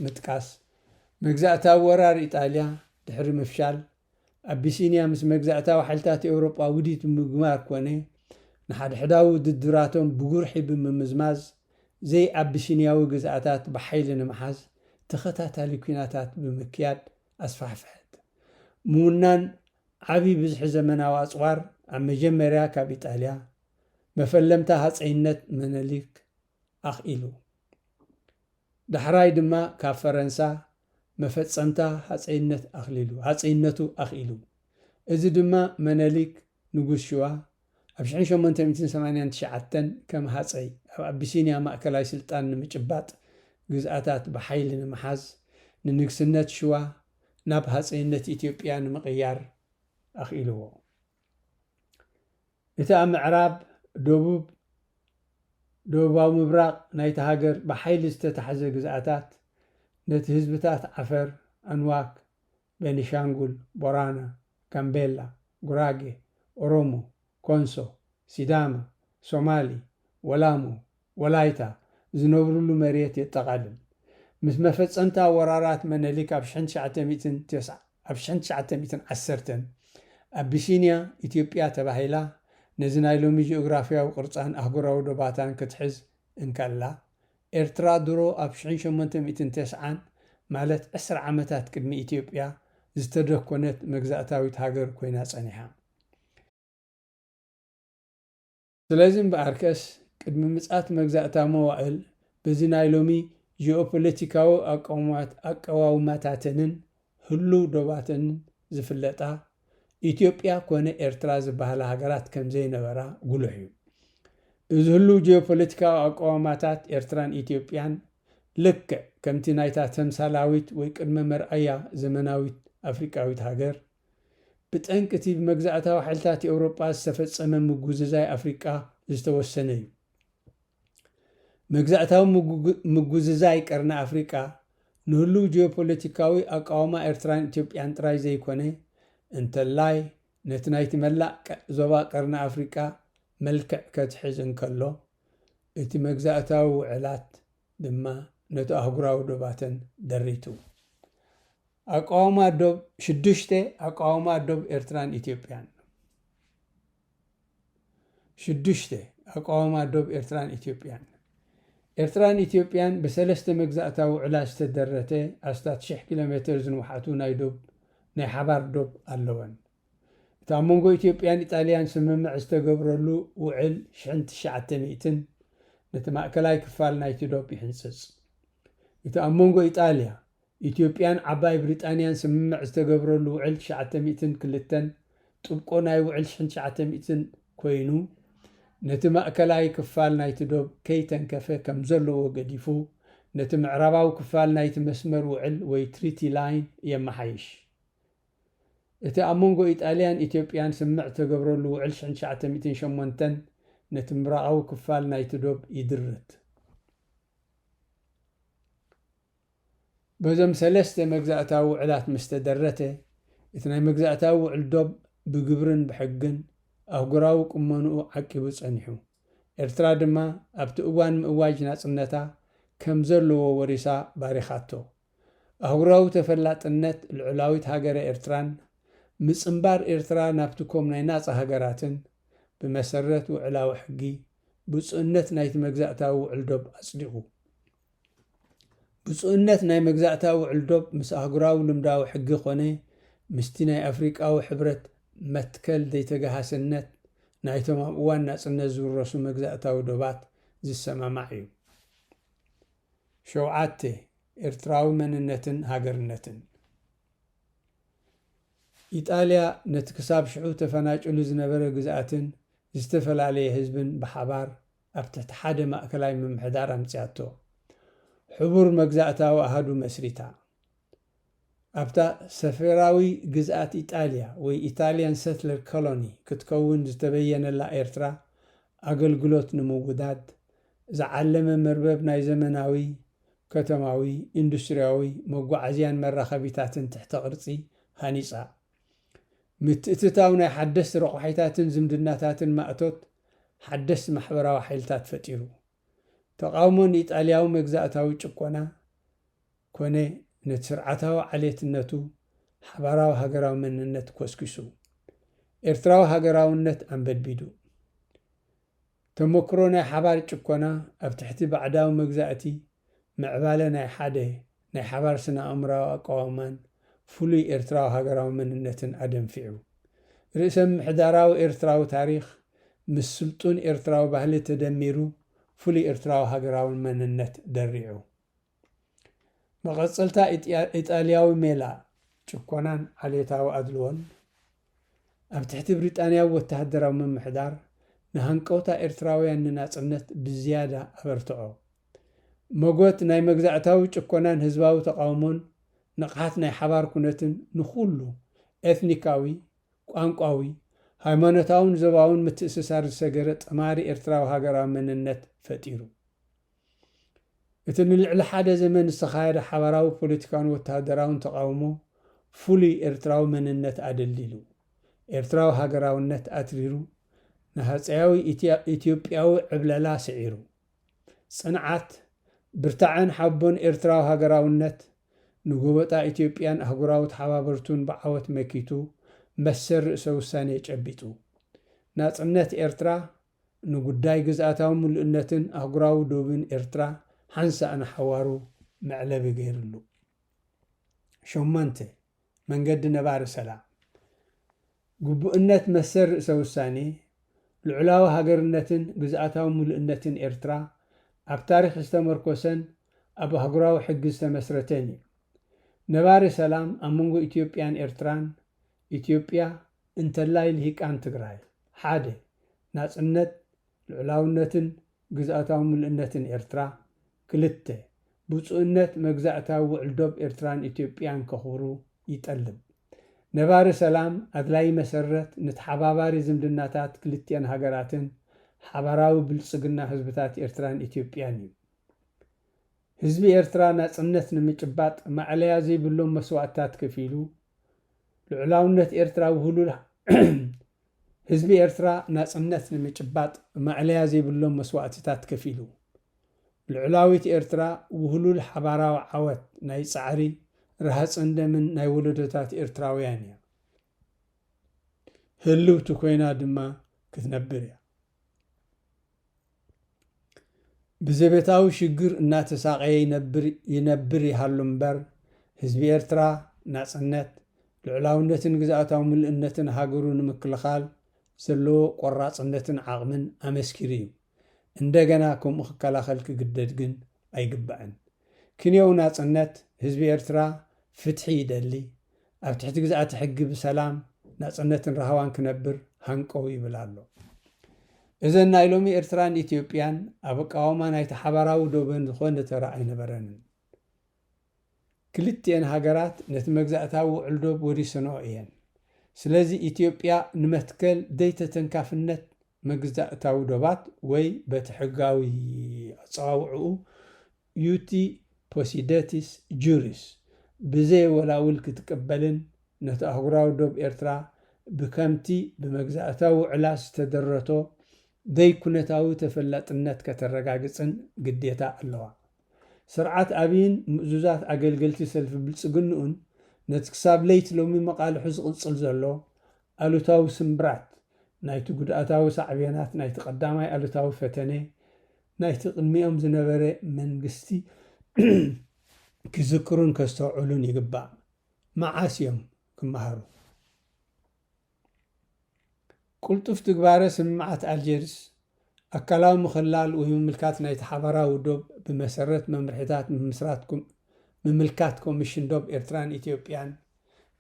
S1: ምጥቃስ፣ መግዛእታዊ ወራር ኢጣልያ ድሕሪ ምፍሻል ኣቢሲንያ ምስ መግዛእታዊ ሓይልታት ኤውሮጳ ውዲት ብምግባር ኮነ ንሓድሕዳዊ ውድድራቶም ብጉርሒ ብምምዝማዝ ዘይኣቢሲንያዊ ግዝኣታት ብሓይሊ ንምሓዝ ተኸታታሊ ኲናታት ብምክያድ ኣስፋሕፍሐት። ምውናን ዓቢ ብዝሒ ዘመናዊ ኣጽዋር ኣብ መጀመርያ ካብ ኢጣልያ፣ መፈለምታ ሃጸይነት መነሊክ፣ ኣኽኢሉ። ዳሕራይ ድማ ካብ ፈረንሳ መፈጸምታ ሃጸይነት ኣኽሊሉ ሃጸይነቱ ኣኽኢሉ። እዚ ድማ መነሊክ ንጉስ ሽዋ ኣብ ሽሕን ሸሞንተ ሚእትን ሰማንያን ትሽዓተን ከም ሃጸይ ኣብ ኣቢሲንያ ማእከላይ ስልጣን ንምጭባጥ ግዝኣታት ብሓይሊ ንምሓዝ ንንግስነት ሽዋ ናብ ሃጸይነት ኢትዮጵያ ንምቕያር ኣኽኢልዎ። እቲ ኣብ ምዕራብ፣ ደቡብ፣ ደቡባዊ ምብራቕ ናይታ ሃገር ብሓይሊ ዝተታሕዘ ግዝኣታት፣ ነቲ ህዝብታት ዓፈር፣ ኣንዋክ፣ ቤኒሻንጉል፣ ቦራና፣ ጋምቤላ፣ ጉራጌ፣ ኦሮሞ፣ ኮንሶ፣ ሲዳማ፣ ሶማሊ፣ ወላሞ፣ ወላይታ፣ ዝነብሩሉ መሬት የጠቓልል። ምስ መፈጸምታ ወራራት መነሊክ ኣብ ሽሕን ትሽዓተ ሚእትን ተስዓ ኣብ ሽሕን ትሽዓተ ሚእትን ዓሰርተን፣ ኣቢሲንያ ኢትዮጵያ ተባሂላ ነዚ ናይ ሎሚ ጂኦግራፍያዊ ቅርጻን ኣህጉራዊ ዶባታን ክትሕዝ እንከላ፣ ኤርትራ ድሮ ኣብ ሽሕን ሸሞንተ ሚእትን ተስዓን፣ ማለት ዕስራ ዓመታት ቅድሚ ኢትዮጵያ፣ ዝተደኮነት መግዛእታዊት ሃገር ኮይና ጸኒሓ። ስለዚ እምበኣር ከስ ቅድሚ ምጽኣት መግዛእታዊ መዋእል በዚ ናይ ሎሚ ጂኦፖለቲካዊ ኣቀዋውማታተንን ህሉው ዶባተንን ዝፍለጣ ኢትዮጵያ ኮነ ኤርትራ ዝበሃላ ሃገራት ከም ዘይነበራ ጉሉሕ እዩ። እዚ ህሉው ጂኦፖለቲካዊ ኣቀዋውማታት ኤርትራን ኢትዮጵያን ልክዕ ከምቲ ናይታ ተምሳላዊት ወይ ቅድመ መርኣያ ዘመናዊት ኣፍሪቃዊት ሃገር፣ ብጠንቂ እቲ ብመግዛእታዊ ሓይልታት ኤውሮጳ ዝተፈጸመ ምጉዝዛይ ኣፍሪቃ ዝተወሰነ እዩ። መግዛእታዊ ምጉዝዛይ ቀርኒ ኣፍሪቃ፣ ንህሉው ጂኦፖለቲካዊ ኣቃውማ ኤርትራን ኢትዮጵያን ጥራይ ዘይኮነ፣ እንተላይ ነቲ ናይቲ መላእ ዞባ ቀርኒ ኣፍሪቃ መልክዕ ከትሕዝ እንከሎ፣ እቲ መግዛእታዊ ውዕላት ድማ ነቲ ኣህጉራዊ ዶባተን ደሪቱ። ኣቃውማ ዶብ ሽዱሽተ ኣቃውማ ዶብ ኤርትራን ኢትዮጵያን ሽዱሽተ ኣቃውማ ዶብ ኤርትራን ኢትዮጵያን ኤርትራን ኢትዮጵያን ብሰለስተ መግዛእታ ውዕላ ዝተደረተ ኣስታት ሽሕ ኪሎ ሜተር ዝንውሓቱ ናይ ዶብ ናይ ሓባር ዶብ ኣለወን። እቲ ኣብ መንጎ ኢትዮጵያን ኢጣልያን ስምምዕ ዝተገብረሉ ውዕል ሽሕን ትሽዓተ ሚእትን ነቲ ማእከላይ ክፋል ናይቲ ዶብ ይሕንጽጽ። እቲ ኣብ መንጎ ኢጣልያ፣ ኢትዮጵያን ዓባይ ብሪጣንያን ስምምዕ ዝተገብረሉ ውዕል ትሽዓተ ሚእትን ክልተን ጥብቆ ናይ ውዕል ሽሕን ትሽዓተ ሚእትን ኮይኑ፣ ነቲ ማእከላይ ክፋል ናይቲ ዶብ ከይተንከፈ ከም ዘለዎ ገዲፉ ነቲ ምዕራባዊ ክፋል ናይቲ መስመር ውዕል ወይ ትሪቲ ላይን የመሓይሽ። እቲ ኣብ መንጎ ኢጣልያን ኢትዮጵያን ስምምዕ ዝተገብረሉ ውዕል ሽሕን ትሽዓተ ሚእትን ሸሞንተን ነቲ ምብራቓዊ ክፋል ናይቲ ዶብ ይድርት። በዞም ሰለስተ መግዛእታዊ ውዕላት ምስ ተደረተ፣ እቲ ናይ መግዛእታዊ ውዕል ዶብ ብግብርን ብሕግን ኣህጉራዊ ቁመንኡ ዓቂቡ ጸኒሑ። ኤርትራ ድማ ኣብቲ እዋን ምእዋጅ ናጽነታ ከም ዘለዎ ወሪሳ ባሪኻቶ። ኣህጉራዊ ተፈላጥነት ልዑላዊት ሃገረ ኤርትራን ምጽንባር ኤርትራ ናብቲ ኮም ናይ ናጻ ሃገራትን ብመሰረት ውዕላዊ ሕጊ ብጹእነት ናይቲ መግዛእታዊ ውዕል ዶብ ኣጽዲቑ። ብጹእነት ናይ መግዛእታዊ ውዕል ዶብ ምስ ኣህጉራዊ ልምዳዊ ሕጊ ኮነ ምስቲ ናይ ኣፍሪቃዊ ሕብረት መትከል ዘይተገሃስነት ናይቶም ኣብ እዋን ናጽነት ዝውረሱ መግዛእታዊ ዶባት ዝሰማማዕ እዩ። ሸውዓተ፣ ኤርትራዊ መንነትን ሃገርነትን። ኢጣልያ ነቲ ክሳብ ሽዑ ተፈናጭሉ ዝነበረ ግዝኣትን ዝተፈላለየ ህዝብን ብሓባር ኣብ ትሕቲ ሓደ ማእከላይ ምምሕዳር ኣምጺኣቶ። ሕቡር መግዛእታዊ ኣሃዱ መስሪታ። ኣብታ ሰፈራዊ ግዝኣት ኢጣልያ ወይ Italian Settler Colony ክትከውን ዝተበየነላ ኤርትራ ኣገልግሎት ንምውዳድ ዝዓለመ መርበብ ናይ ዘመናዊ ከተማዊ፣ ኢንዱስትርያዊ፣ መጓዓዝያን መራኸቢታትን ትሕተ ቅርጺ ሃኒጻ። ምትእትታው ናይ ሓደስቲ ረቋሒታትን ዝምድናታትን ማእቶት ሓደስቲ ማሕበራዊ ሓይልታት ፈጢሩ። ተቓውሞ ንኢጣልያዊ መግዛእታዊ ጭቆና ኮነ ነቲ ስርዓታዊ ዓሌትነቱ ሓባራዊ ሃገራዊ መንነት ኮስኪሱ፣ ኤርትራዊ ሃገራውነት ኣንበድቢዱ። ተመክሮ ናይ ሓባር ጭቆና ኣብ ትሕቲ ባዕዳዊ መግዛእቲ ምዕባለ ናይ ሓደ ናይ ሓባር ስነ-ኣእምሮኣዊ ኣቀዋውማን ፍሉይ ኤርትራዊ ሃገራዊ መንነትን ኣደንፊዑ። ርእሰ-ምምሕዳራዊ ኤርትራዊ ታሪኽ ምስ ስልጡን ኤርትራዊ ባህሊ ተደሚሩ ፍሉይ ኤርትራዊ ሃገራዊ መንነት ደሪዑ። መቐጸልታ ኢጣልያዊ ሜላ ጭኮናን ዓሌታዊ ኣድልዎን፣ ኣብ ትሕቲ ብሪጣንያዊ ወተሃደራዊ ምምሕዳር፣ ንሃንቀውታ ኤርትራውያን ንናጽነት ብዝያዳ ኣበርትዖ። መጎት ናይ መግዛእታዊ ጭኮናን ህዝባዊ ተቓውሞን ንቕሓት ናይ ሓባር ኩነትን ንኹሉ ኤትኒካዊ፣ ቋንቋዊ፣ ሃይማኖታውን ዞባውን ምትእስሳር ዝሰገረ ጠማሪ ኤርትራዊ ሃገራዊ መንነት ፈጢሩ። እቲ ንልዕሊ ሓደ ዘመን ዝተኻየደ ሓባራዊ ፖለቲካውን ወተሃደራውን ተቓውሞ ፍሉይ ኤርትራዊ መንነት ኣደልዲሉ፣ ኤርትራዊ ሃገራውነት ኣትሪሩ፣ ንሃጸያዊ ኢትዮጵያዊ ዕብለላ ስዒሩ፣ ጽንዓት፣ ብርታዐን ሓቦን ኤርትራዊ ሃገራውነት ንጎበጣ ኢትዮጵያን ኣህጉራዊ ተሓባበርቱን ብዓወት መኪቱ መሰል ርእሰ ውሳኔ ጨቢጡ። ናጽነት ኤርትራ ንጉዳይ ግዝኣታዊ ምሉእነትን ኣህጉራዊ ዶብን ኤርትራ ሓንሳእ ንሓዋሩ መዕለቢ ገይርሉ። ሸሞንተ። መንገዲ ነባሪ ሰላም፣ ግቡእነት መሰል ርእሰ ውሳኔ፣ ልዑላዊ ሃገርነትን ግዝኣታዊ ምሉእነትን ኤርትራ ኣብ ታሪኽ ዝተመርኮሰን ኣብ ኣህጉራዊ ሕጊ ዝተመስረተን እዩ። ነባሪ ሰላም ኣብ መንጎ ኢትዮጵያን ኤርትራን፣ ኢትዮጵያ፣ እንተላይ ልሂቃን ትግራይ፣ ሓደ፣ ናጽነት፣ ልዑላውነትን ግዝኣታዊ ምሉእነትን ኤርትራ፣ ክልተ፣ ብጹእነት መግዛእታዊ ውዕል ዶብ ኤርትራን ኢትዮጵያን ከኽብሩ ይጠልብ። ነባሪ ሰላም ኣድላዪ መሰረት ንተሓባባሪ ዝምድናታት ክልቲኣን ሃገራትን ሓባራዊ ብልጽግና ህዝብታት ኤርትራን ኢትዮጵያን እዩ። ህዝቢ ኤርትራ ናጽነት ንምጭባጥ ማእለያ ዘይብሎም መስዋእትታት ከፊሉ፣ ልዑላውነት ኤርትራ ውህሉል ህዝቢ ኤርትራ ናጽነት ንምጭባጥ ማእለያ ዘይብሎም መስዋእቲታት ከፊሉ። ልዑላዊት ኤርትራ ውህሉል ሓባራዊ ዓወት ናይ ጻዕሪ፣ ረሃጽን ደምን ናይ ወለዶታት ኤርትራውያን እያ። ህልውቲ ኮይና ድማ ክትነብር እያ። ብዘቤታዊ ሽግር እናተሳቐየ ይነብር ይነብር ይሃሉ እምበር፣ ህዝቢ ኤርትራ ናጽነት፣ ልዑላውነትን ግዝኣታዊ ምሉእነትን ሃገሩ ንምክልኻል ዘለዎ ቆራጽነትን ዓቕምን ኣመስኪሩ እዩ። እንደገና ከምኡ ክከላኸል ክግደድ ግን ኣይግባእን። ክንዮው ናጽነት፣ ህዝቢ ኤርትራ ፍትሒ ይደሊ፣ ኣብ ትሕቲ ግዝኣተ ሕጊ ብሰላም፣ ናጽነትን ራህዋን ክነብር ሃንቀው ይብል ኣሎ። እዘን ናይ ሎሚ ኤርትራን ኢትዮጵያን ኣብ ኣቃውማ ናይቲ ሓባራዊ ዶበን ዝኾነ ተራ ኣይነበረንን። ክልቲኤን ሃገራት ነቲ መግዛእታዊ ውዕል ዶብ ወሪሰንኦ እየን። ስለዚ ኢትዮጵያ ንመትከል ዘይተተንካፍነት መግዛእታዊ ዶባት ወይ በቲ ሕጋዊ ኣጸዋውዕኡ ዩቲ ፖሲደቲስ ጁሪስ ብዘይ ወላውል ክትቅበልን ነቲ ኣህጉራዊ ዶብ ኤርትራ ብከምቲ ብመግዛእታዊ ውዕላት ዝተደረቶ ዘይኩነታዊ ተፈላጥነት ከተረጋግጽን ግዴታ ኣለዋ። ስርዓት ኣብይን ምእዙዛት ኣገልገልቲ ሰልፊ ብልጽግንኡን ነቲ ክሳብ ለይቲ ሎሚ መቓልሑ ዝቕጽል ዘሎ ኣሉታዊ ስምብራት ናይቲ ጉድኣታዊ ሳዕቤናት ናይቲ ቀዳማይ ኣሉታዊ ፈተነ ናይቲ ቅድሚኦም ዝነበረ መንግስቲ ክዝክሩን ከስተውዕሉን ይግባእ። መዓስ እዮም ክመሃሩ? ቅልጡፍ ትግባረ ስምምዓት ኣልጀርስ፣ ኣካላዊ ምኽላል ወይ ምምልካት ናይቲ ሓባራዊ ዶብ ብመሰረት መምርሒታት ምምስራት ምምልካት ኮሚሽን ዶብ ኤርትራን ኢትዮጵያን፣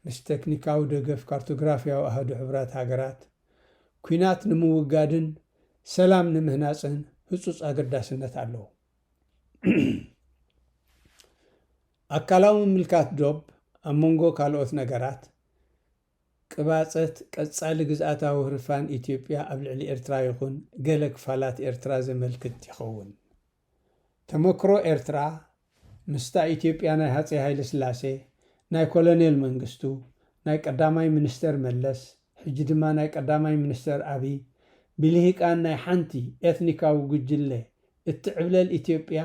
S1: ምስ ተክኒካዊ ደገፍ ካርቶግራፍያዊ ኣሃዱ ሕቡራት ሃገራት፣ ኲናት ንምውጋድን ሰላም ንምህናጽን ህጹጽ ኣገዳስነት ኣለዎ። ኣካላዊ ምምልካት ዶብ፣ ኣብ መንጎ ካልኦት ነገራት፣ ቅባጸት ቀጻሊ ግዝኣታዊ ህርፋን ኢትዮጵያ ኣብ ልዕሊ ኤርትራ ይኹን ገለ ክፋላት ኤርትራ ዘመልክት ይኸውን። ተመክሮ ኤርትራ ምስታ ኢትዮጵያ ናይ ሃጸይ ሃይለስላሴ፣ ናይ ኮሎኔል መንግስቱ፣ ናይ ቀዳማይ ሚኒስተር መለስ ሕጂ ድማ ናይ ቀዳማይ ሚኒስተር ኣብይ ብልሂቃን ናይ ሓንቲ ኤትኒካዊ ጉጅለ እትዕብለል ኢትዮጵያ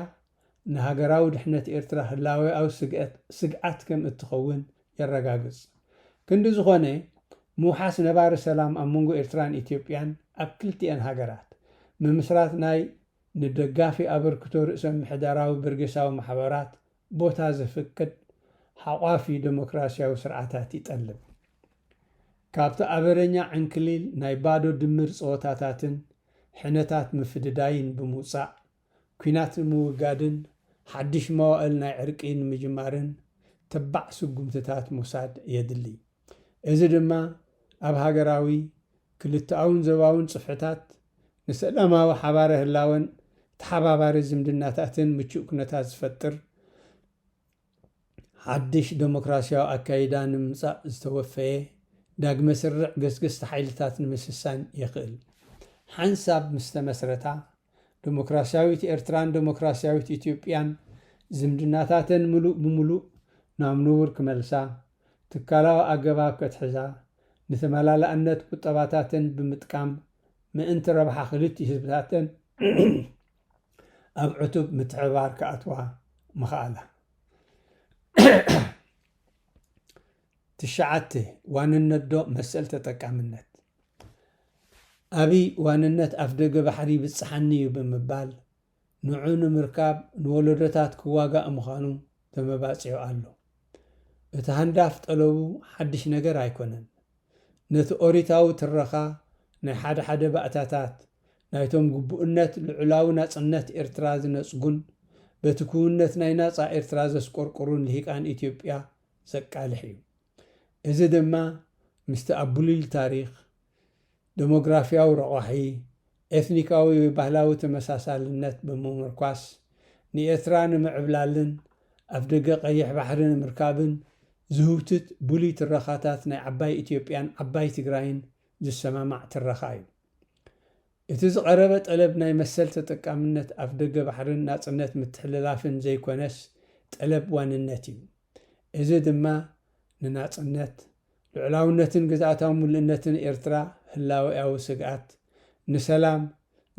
S1: ንሃገራዊ ድሕነት ኤርትራ ህላዌኣዊ ስግኣት ስግኣት ከም እትኸውን የረጋግጽ። ክንዲ ዝኾነ ምውሓስ ነባሪ ሰላም ኣብ መንጎ ኤርትራን ኢትዮጵያን ኣብ ክልቲኤን ሃገራት ምምስራት ናይ ንደጋፊ ኣበርክቶ ርእሰ ምሕደራዊ በርጌሳዊ ማሕበራት ቦታ ዘፍቅድ ሓቋፊ ደሞክራሲያዊ ስርዓታት ይጠልብ። ካብቲ ኣበረኛ ዕንክሊል ናይ ባዶ ድምር ጸወታታትን ሕነታት ምፍድዳይን ብምውጻእ፣ ኲናት ንምውጋድን ሓድሽ መዋእል ናይ ዕርቂ ንምጅማርን ተባዕ ስጉምትታት ምውሳድ የድልይ። እዚ ድማ ኣብ ሃገራዊ፣ ክልተኣውን ዞባውን ጽፍሕታት ንሰላማዊ ሓባሪ ህላወን ተሓባባሪ ዝምድናታትን ምቹእ ኩነታት ዝፈጥር ሓድሽ ደሞክራስያዊ ኣካይዳ ንምምጻእ ዝተወፈየ ዳግመ ስርርዕ ገስገስቲ ሓይልታት ንምስሳን የኽእል። ሓንሳብ ምስ ተመስረታ፣ ደሞክራስያዊት ኤርትራን ደሞክራስያዊት ኢትዮጵያን ዝምድናታተን ምሉእ ብምሉእ ናብ ንቡር ክመልሳ ትካላዊ ኣገባብ ከትሕዛ፣ ንተመላላእነት ቁጠባታተን ብምጥቃም ምእንቲ ረብሓ ክልቲኡ ህዝብታተን ኣብ ዕቱብ ምትሕብባር ክኣትዋ ምኽኣላ። ትሽዓተ፣ ዋንነት ዶብ መሰል ተጠቃምነት ኣብይ ዋንነት ኣፍደገ ባሕሪ ይብጽሓኒ እዩ ብምባል፣ ንዑ ንምርካብ ንወለዶታት ክዋጋእ ምዃኑ ተመባጺዑ ኣሎ። እቲ ሃንዳፍ ጠለቡ ሓድሽ ነገር ኣይኮነን። ነቲ ኦሪታዊ ትረኻ ናይ ሓደ ሓደ ባእታታት ናይቶም ግቡእነት ልዑላዊ ናጽነት ኤርትራ ዝነጽጉን በቲ ክውንነት ናይ ናጻ ኤርትራ ዘስቆርቁሩን ልሂቃን ኢትዮጵያ ዘቃልሕ እዩ። እዚ ድማ ምስቲ ኣብ ብሉል ታሪኽ፣ ደሞግራፍያዊ ረቋሒ፣ ኤትኒካዊ ወይ ባህላዊ ተመሳሳልነት ብምምርኳስ ንኤርትራ ንምዕብላልን ኣፍደገ ቀይሕ ባሕሪ ንምርካብን ዝህውትት ብሉይ ትረኻታት ናይ ዓባይ ኢትዮጵያን ዓባይ ትግራይን ዝሰማማዕ ትረኻ እዩ። እቲ ዝቐረበ ጠለብ ናይ መሰል ተጠቃምነት ኣፍደገ ባሕርን ናጽነት ምትሕልላፍን ዘይኮነስ ጠለብ ዋንነት እዩ። እዚ ድማ ንናጽነት፣ ልዑላውነትን ግዝኣታዊ ምሉእነትን ኤርትራ ህላዌኣዊ ስግኣት፣ ንሰላም፣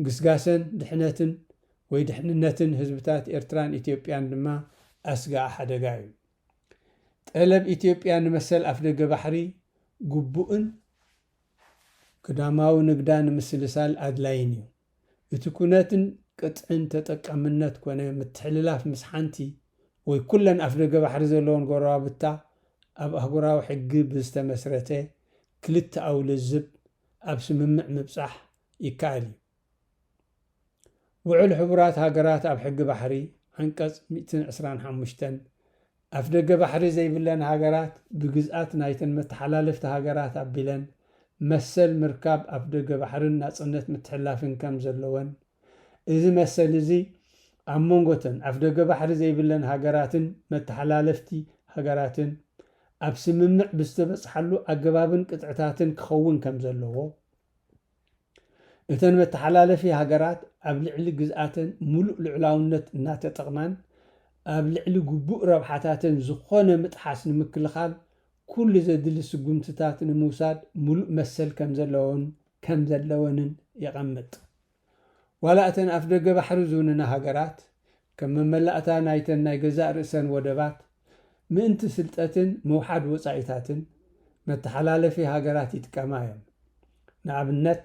S1: ግስጋሰን ድሕነትን ወይ ድሕንነትን ህዝብታት ኤርትራን ኢትዮጵያን ድማ ኣስጋኢ ሓደጋ እዩ። ጠለብ ኢትዮጵያ ንመሰል ኣፍደገ ባሕሪ ግቡእን ግዳማዊ ንግዳ ንምስልሳል ኣድላይን እዩ። እቲ ኩነትን ቅጥዕን ተጠቃምነት ኮነ ምትሕልላፍ ምስ ሓንቲ ወይ ኩለን ኣፍደገ ባሕሪ ዘለወን ጎረባብታ ኣብ ኣህጉራዊ ሕጊ ብዝተመስረተ ክልተኣዊ ልዝብ ኣብ ስምምዕ ምብጻሕ ይከኣል እዩ። ውዕል ሕቡራት ሃገራት ኣብ ሕጊ ባሕሪ ዓንቀጽ ሚእትን ዕስራን ሓሙሽተን፣ ኣፍደገ ባሕሪ ዘይብለን ሃገራት ብግዝኣት ናይተን መተሓላለፍቲ ሃገራት ኣቢለን መሰል ምርካብ ኣፍደገ ባሕርን ናጽነት ምትሕልላፍን ከም ዘለወን፣ እዚ መሰል እዚ ኣብ መንጎተን ኣፍደገ ባሕሪ ዘይብለን ሃገራትን መተሓላለፍቲ ሃገራትን ኣብ ስምምዕ ብዝተበጽሓሉ ኣገባብን ቅጥዕታትን ክኸውን ከም ዘለዎ፣ እተን መተሓላለፊ ሃገራት ኣብ ልዕሊ ግዝኣተን ሙሉእ ልዑላውነት እናተጠቕማን ኣብ ልዕሊ ግቡእ ረብሓታተን ዝኾነ ምጥሓስ ንምክልኻል ኩሉ ዘድሊ ስጉምትታት ንምውሳድ ሙሉእ መሰል ከምዘለዎን ከምዘለወንን የቐምጥ። ዋላ እተን ኣፍደገ ባሕሪ ዝውንና ሃገራት፣ ከም መመላእታ ናይተን ናይ ገዛእ ርእሰን ወደባት፣ ምእንቲ ፍልጠትን ምውሓድ ወጻኢታትን፣ መተሓላለፊ ሃገራት ይጥቀማ እዮን። ንኣብነት፣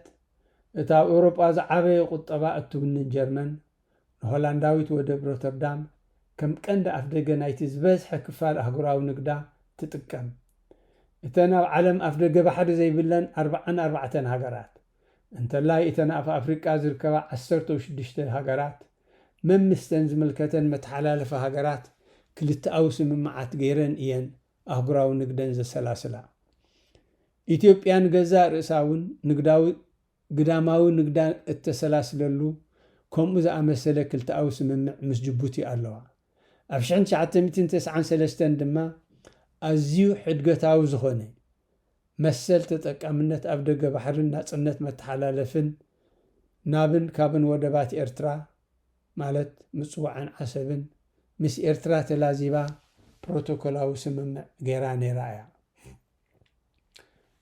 S1: እታ ኣብ ኤውሮጳ ዝዓበየ ቁጠባ እትውንን ጀርመን፣ ንሆላንዳዊት ወደብ ሮተርዳም ከም ቀንዲ ኣፍደገ ናይቲ ዝበዝሐ ክፋል ኣህጉራዊ ንግዳ ትጥቀም። እተን ኣብ ዓለም ኣፍደገ ባሕሪ ዘይብለን ኣርብዓን ኣርባዕተን ሃገራት፣ እንተላይ እተን ኣብ ኣፍሪቃ ዝርከባ ዓሰርተው ሽዱሽተ ሃገራት መምስተን ዝምልከተን መተሓላለፊ ሃገራት ክልተኣዊ ስምምዓት ገይረን እየን ኣህጉራዊ ንግደን ዘሰላስላ። ኢትዮጵያ ንገዛእ ርእሳ እውን ንግዳዊ ግዳማዊ ንግዳ እተሰላስለሉ ከምኡ ዝኣመሰለ ክልተኣዊ ስምምዕ ምስ ጅቡቲ ኣለዋ። ኣብ ሽሕን ትሽዓተ ሚእትን ተስዓን ሰለስተን ድማ ኣዝዩ ሕድገታዊ ዝኾነ መሰል ተጠቃምነት ኣብ ደገ ባሕርን ናጽነት መተሓላለፍን ናብን ካብን ወደባት ኤርትራ ማለት ምጽዋዕን ዓሰብን ምስ ኤርትራ ተላዚባ ፕሮቶኮላዊ ስምምዕ ገይራ ነይራ እያ።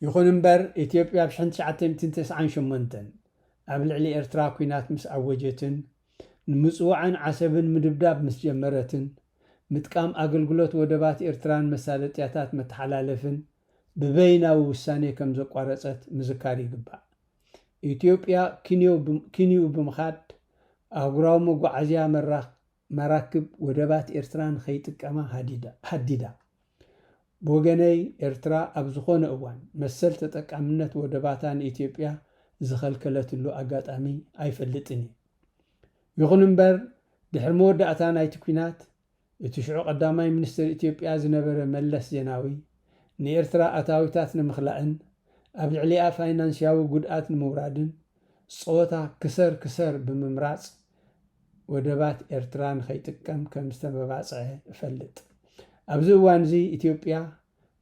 S1: ይኹን እምበር ኢትዮጵያ ብ ሽሕን ትሽዓተ ሚእትን ተስዓን ሸሞንተን ኣብ ልዕሊ ኤርትራ ኲናት ምስ ኣወጀትን ንምጽዋዕን ዓሰብን ምድብዳብ ምስ ጀመረትን ምጥቃም ኣገልግሎት ወደባት ኤርትራን መሳለጥያታት መተሓላለፍን ብበይናዊ ውሳኔ ከም ዘቋረጸት ምዝካር ይግባእ። ኢትዮጵያ ኪንዮኡ ብምኻድ ኣህጉራዊ መጓዓዝያ መራኽ መራክብ ወደባት ኤርትራ ንኸይጥቀማ ሃዲዳ። ብወገነይ ኤርትራ ኣብ ዝኾነ እዋን መሰል ተጠቃምነት ወደባታ ንኢትዮጵያ ዝኸልከለትሉ ኣጋጣሚ ኣይፈልጥን እዩ። ይኹን እምበር ድሕሪ መወዳእታ ናይቲ ኲናት እቲ ሽዑ ቀዳማይ ሚኒስተር ኢትዮጵያ ዝነበረ መለስ ዜናዊ ንኤርትራ ኣታዊታት ንምኽላእን ኣብ ልዕሊኣ ፋይናንስያዊ ጉድኣት ንምውራድን ጸወታ ክሰር ክሰር ብምምራጽ ወደባት ኤርትራ ንኸይጥቀም ከም ዝተመባጽዐ እፈልጥ። ኣብዚ እዋንዚ ኢትዮጵያ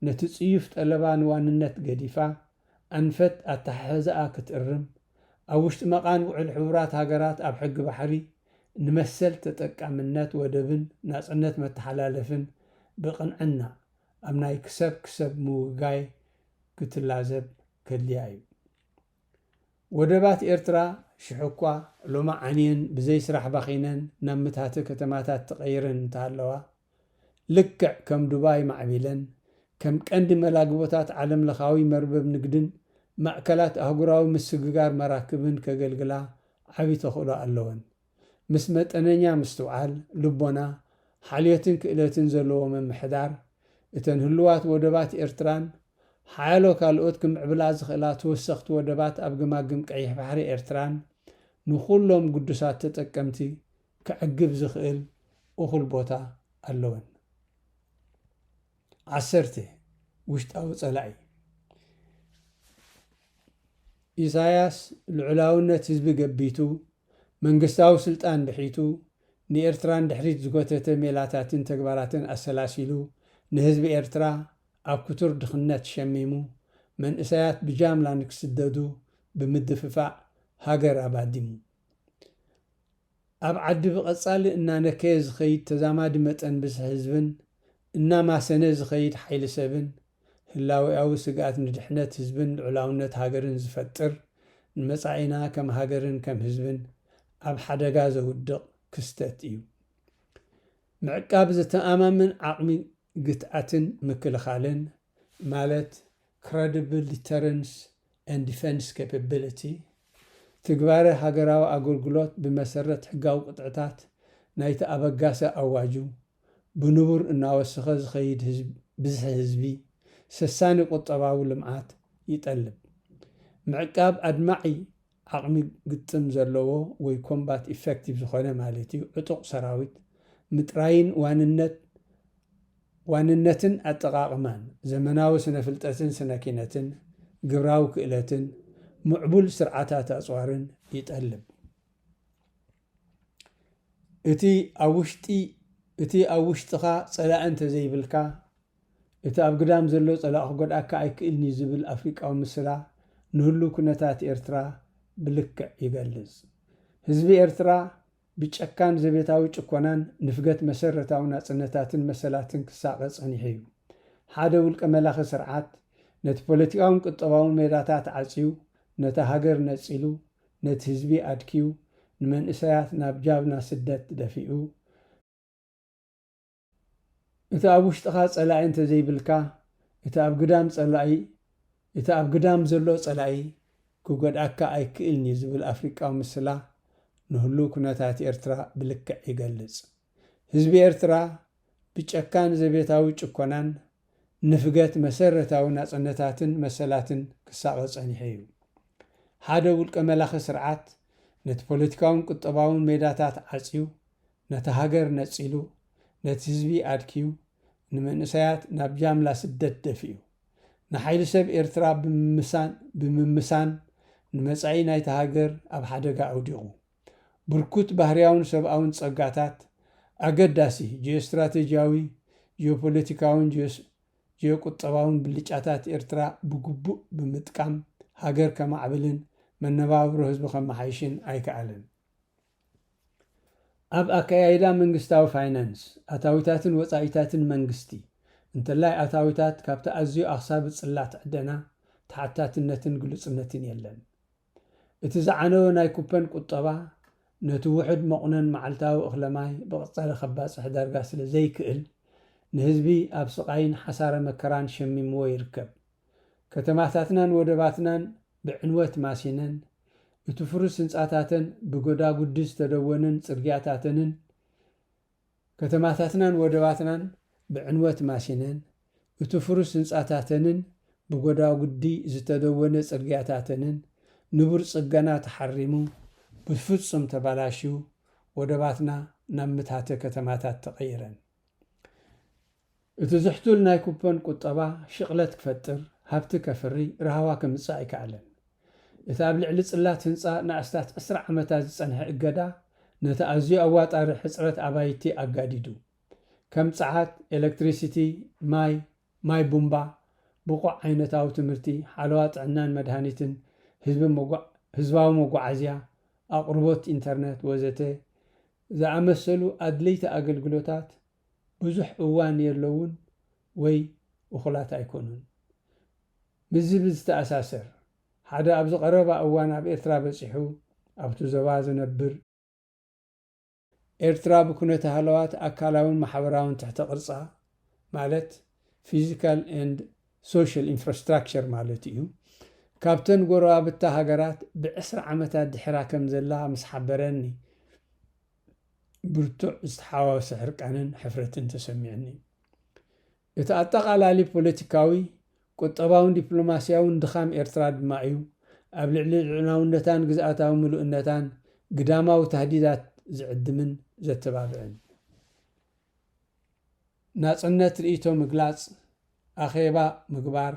S1: ነቲ ጽዩፍ ጠለባ ንዋንነት ገዲፋ ኣንፈት ኣተሓሕዛኣ ክትእርም፣ ኣብ ውሽጢ መቓን ውዕል ሕቡራት ሃገራት ኣብ ሕጊ ባሕሪ ንመሰል ተጠቃምነት ወደብን ናጽነት መተሓላለፍን ብቕንዕና ኣብ ናይ ክሰብ ክሰብ ምውጋይ ክትላዘብ ከድልያ እዩ። ወደባት ኤርትራ ሽሕ'ኳ ሎሚ ዓንየን ብዘይ ስራሕ ባኺነን ናብ ምትሃቲ ከተማታት ተቐይረን እንተሃለዋ፣ ልክዕ ከም ዱባይ ማዕቢለን ከም ቀንዲ መላግቦታት ዓለምለኻዊ መርበብ ንግድን ማእከላት ኣህጉራዊ ምስግጋር መራክብን ከገልግላ ዓቢ ተኽእሎ ኣለወን። ምስ መጠነኛ ምስትውዓል፣ ልቦና፣ ሓልዮትን ክእለትን ዘለዎ ምምሕዳር፣ እተን ህሉዋት ወደባት ኤርትራን ሓያሎ ካልኦት ክምዕብላ ዝኽእላ ተወሰኽቲ ወደባት ኣብ ገማግም ቀይሕ ባሕሪ ኤርትራን ንኹሎም ግዱሳት ተጠቀምቲ ከዕግብ ዝኽእል እኹል ቦታ ኣለወን። ዓሰርተ፣ ውሽጣዊ ጸላኢ ኢሳያስ ልዑላውነት ህዝቢ ገቢቱ፣ መንግስታዊ ስልጣን ብሒቱ፣ ንኤርትራ ንድሕሪት ዝጎተተ ሜላታትን ተግባራትን ኣሰላሲሉ፣ ንህዝቢ ኤርትራ ኣብ ክቱር ድኽነት ሸሚሙ፣ መንእሰያት ብጃምላ ንክስደዱ ብምድፍፋእ ሃገር ኣባዲሙ። ኣብ ዓዲ ብቐጻሊ እናነከየ ዝኸይድ ተዛማዲ መጠን ብዝሒ ህዝብን እናማሰነ ዝኸይድ ሓይሊ ሰብን፣ ህላዌኣዊ ስግኣት ንድሕነት ህዝብን ልዑላውነት ሃገርን ዝፈጥር፣ ንመጻኢና ከም ሃገርን ከም ህዝብን ኣብ ሓደጋ ዘውድቕ ክስተት እዩ። ምዕቃብ ዘተኣማምን ዓቕሚ ግትኣትን ምክልኻልን ማለት Credible Deterrence and Defense Capability፣ ትግባረ ሃገራዊ ኣገልግሎት ብመሰረት ሕጋዊ ቅጥዕታት ናይቲ ኣበጋሲ ኣዋጁ ብንቡር እናወሰኸ ዝኸይድ ብዝሒ ህዝቢ ሰሳኒ ቁጠባዊ ልምዓት ይጠልብ። ምዕቃብ ኣድማዒ ዓቕሚ ግጥም ዘለዎ ወይ ኮምባት ኢፈክቲቭ ዝኾነ ማለት እዩ፣ ዕጡቕ ሰራዊት ምጥራይን ዋንነት ዋንነትን ኣጠቓቕማን ዘመናዊ ስነ-ፍልጠትን ስነ-ኪነትን ግብራዊ ክእለትን ምዕቡል ስርዓታት ኣጽዋርን ይጠልብ። እቲ ኣብ ውሽጢ እቲ ኣብ ውሽጥኻ ጸላኢ እንተዘይብልካ፣ እቲ ኣብ ግዳም ዘሎ ጸላኢ ክጎድኣካ ኣይክእልን'ዩ ዝብል ኣፍሪቃዊ ምስላ ንህሉው ኩነታት ኤርትራ ብልክዕ ይገልጽ። ህዝቢ ኤርትራ ብጨካን ዘቤታዊ ጭኮናን ንፍገት መሰረታዊ ናጽነታትን መሰላትን ክሳቐ ጸኒሑ'ዩ። ሓደ ውልቀ መላኺ ስርዓት ነቲ ፖለቲካውን ቁጠባውን ሜዳታት ዓጽዩ፣ ነታ ሃገር ነጺሉ፣ ነቲ ህዝቢ ኣድክዩ፣ ንመንእሰያት ናብ ጃብና ስደት ደፊኡ፣ እቲ ኣብ ውሽጥኻ ጸላኢ እንተ ዘይብልካ፣ እቲ ኣብ ግዳም ጸላኢ፣ እቲ ኣብ ግዳም ዘሎ ጸላኢ ክጎድኣካ ኣይክእልን እዩ ዝብል ኣፍሪቃዊ ምስላ፣ ንህሉው ኩነታት ኤርትራ ብልክዕ ይገልጽ። ህዝቢ ኤርትራ ብጨካን ዘቤታዊ ጭኮናን ንፍገት መሰረታዊ ናጽነታትን መሰላትን ክሳቐ ጸኒሑ እዩ። ሓደ ውልቀ መላኺ ስርዓት ነቲ ፖለቲካውን ቁጠባውን ሜዳታት ዓጽዩ፣ ነታ ሃገር ነጺሉ፣ ነቲ ህዝቢ ኣድክዩ፣ ንመንእሰያት ናብ ጃምላ ስደት ደፊኡ፣ ንሓይሊ ሰብ ኤርትራ ብምምሳን ብምምሳን ንመጻኢ ናይታ ሃገር ኣብ ሓደጋ ኣውዲቑ። ብርኩት ባህርያውን ሰብኣውን ጸጋታት፣ ኣገዳሲ ጂኦስትራተጂያዊ፣ ጂኦፖለቲካውን ጂኦቁጠባውን ብልጫታት ኤርትራ ብግቡእ ብምጥቃም ሃገር ከማዕብልን መነባብሮ ህዝቢ ከመሓይሽን ኣይከኣለን። ኣብ ኣከያይዳ መንግስታዊ ፋይናንስ፣ ኣታዊታትን ወጻኢታትን መንግስቲ፣ እንተላይ ኣታዊታት ካብቲ ኣዝዩ ኣኽሳቢ ጽላት ዕደና፣ ተሓታትነትን ግሉጽነትን የለን። እቲ ዝዓነወ ናይ ኩፐን ቁጠባ፣ ነቲ ውሑድ መቑነን መዓልታዊ እኽለ ማይ ብቐጻሊ ከባጽሕ ዳርጋ ስለ ዘይክእል፣ ንህዝቢ ኣብ ስቓይን ሓሳረ መከራን ሸሚምዎ ይርከብ። ከተማታትናን ወደባትናን ብዕንወት ማሲነን፣ እቲ ፍሩስ ህንጻታተን ብጎዳጉዲ ዝተደወነን ጽርግያታተንን ከተማታትናን ወደባትናን ብዕንወት ማሲነን፣ እቲ ፍሩስ ህንጻታተንን ብጎዳጉዲ ዝተደወነ ጽርግያታተንን ንቡር ጽገና ተሓሪሙ ብፍጹም ተባላሽዩ ወደባትና ናብ ምታተ ከተማታት ተቐይረን። እቲ ዝሕቱል ናይ ኩፐን ቁጠባ ሽቕለት ክፈጥር፣ ሃብቲ ከፍሪ፣ ራህዋ ከምጽእ ኣይከኣለን። እቲ ኣብ ልዕሊ ጽላት ህንጻ ንኣስታት ዕስራ ዓመታት ዝጸንሐ እገዳ ነቲ ኣዝዩ ኣዋጣሪ ሕጽረት ኣባይቲ ኣጋዲዱ። ከም ጸዓት፣ ኤለክትሪሲቲ፣ ማይ፣ ማይ ቡምባ፣ ብቑዕ ዓይነታዊ ትምህርቲ፣ ሓለዋ ጥዕናን መድሃኒትን፣ ህዝቢ ህዝባዊ መጓዓዝያ፣ ኣቕርቦት ኢንተርነት ወዘተ ዝኣመሰሉ ኣድለይቲ ኣገልግሎታት ብዙሕ እዋን የለዉን ወይ እኹላት ኣይኮኑን። ምስዚ ብዝተኣሳሰር፣ ሓደ ኣብዚ ቀረባ እዋን ኣብ ኤርትራ በጺሑ ኣብቲ ዞባ ዝነብር፣ ኤርትራ ብኩነተ ሃለዋት ኣካላውን ማሕበራውን ትሕተ ቅርጻ ማለት Physical and Social Infrastructure ማለቱ እዩ፣ ካብተን ጎረባብታ ሃገራት ብዕስራ ዓመታት ድሒራ ከም ዘላ ምስ ሓበረኒ ብርቱዕ ዝተሓዋወሰ ሕርቃንን ሕፍረትን ተሰሚዑኒ። እቲ ኣጠቓላሊ ፖለቲካዊ፣ ቁጠባውን ዲፕሎማስያውን ድኻም ኤርትራ ድማ እዩ ኣብ ልዕሊ ልዑላውነታን ግዝኣታዊ ምሉእነታን ግዳማዊ ታህዲዳት ዝዕድምን ዘተባብዕን። ናጽነት ርእይቶ ምግላጽ፣ ኣኼባ ምግባር፣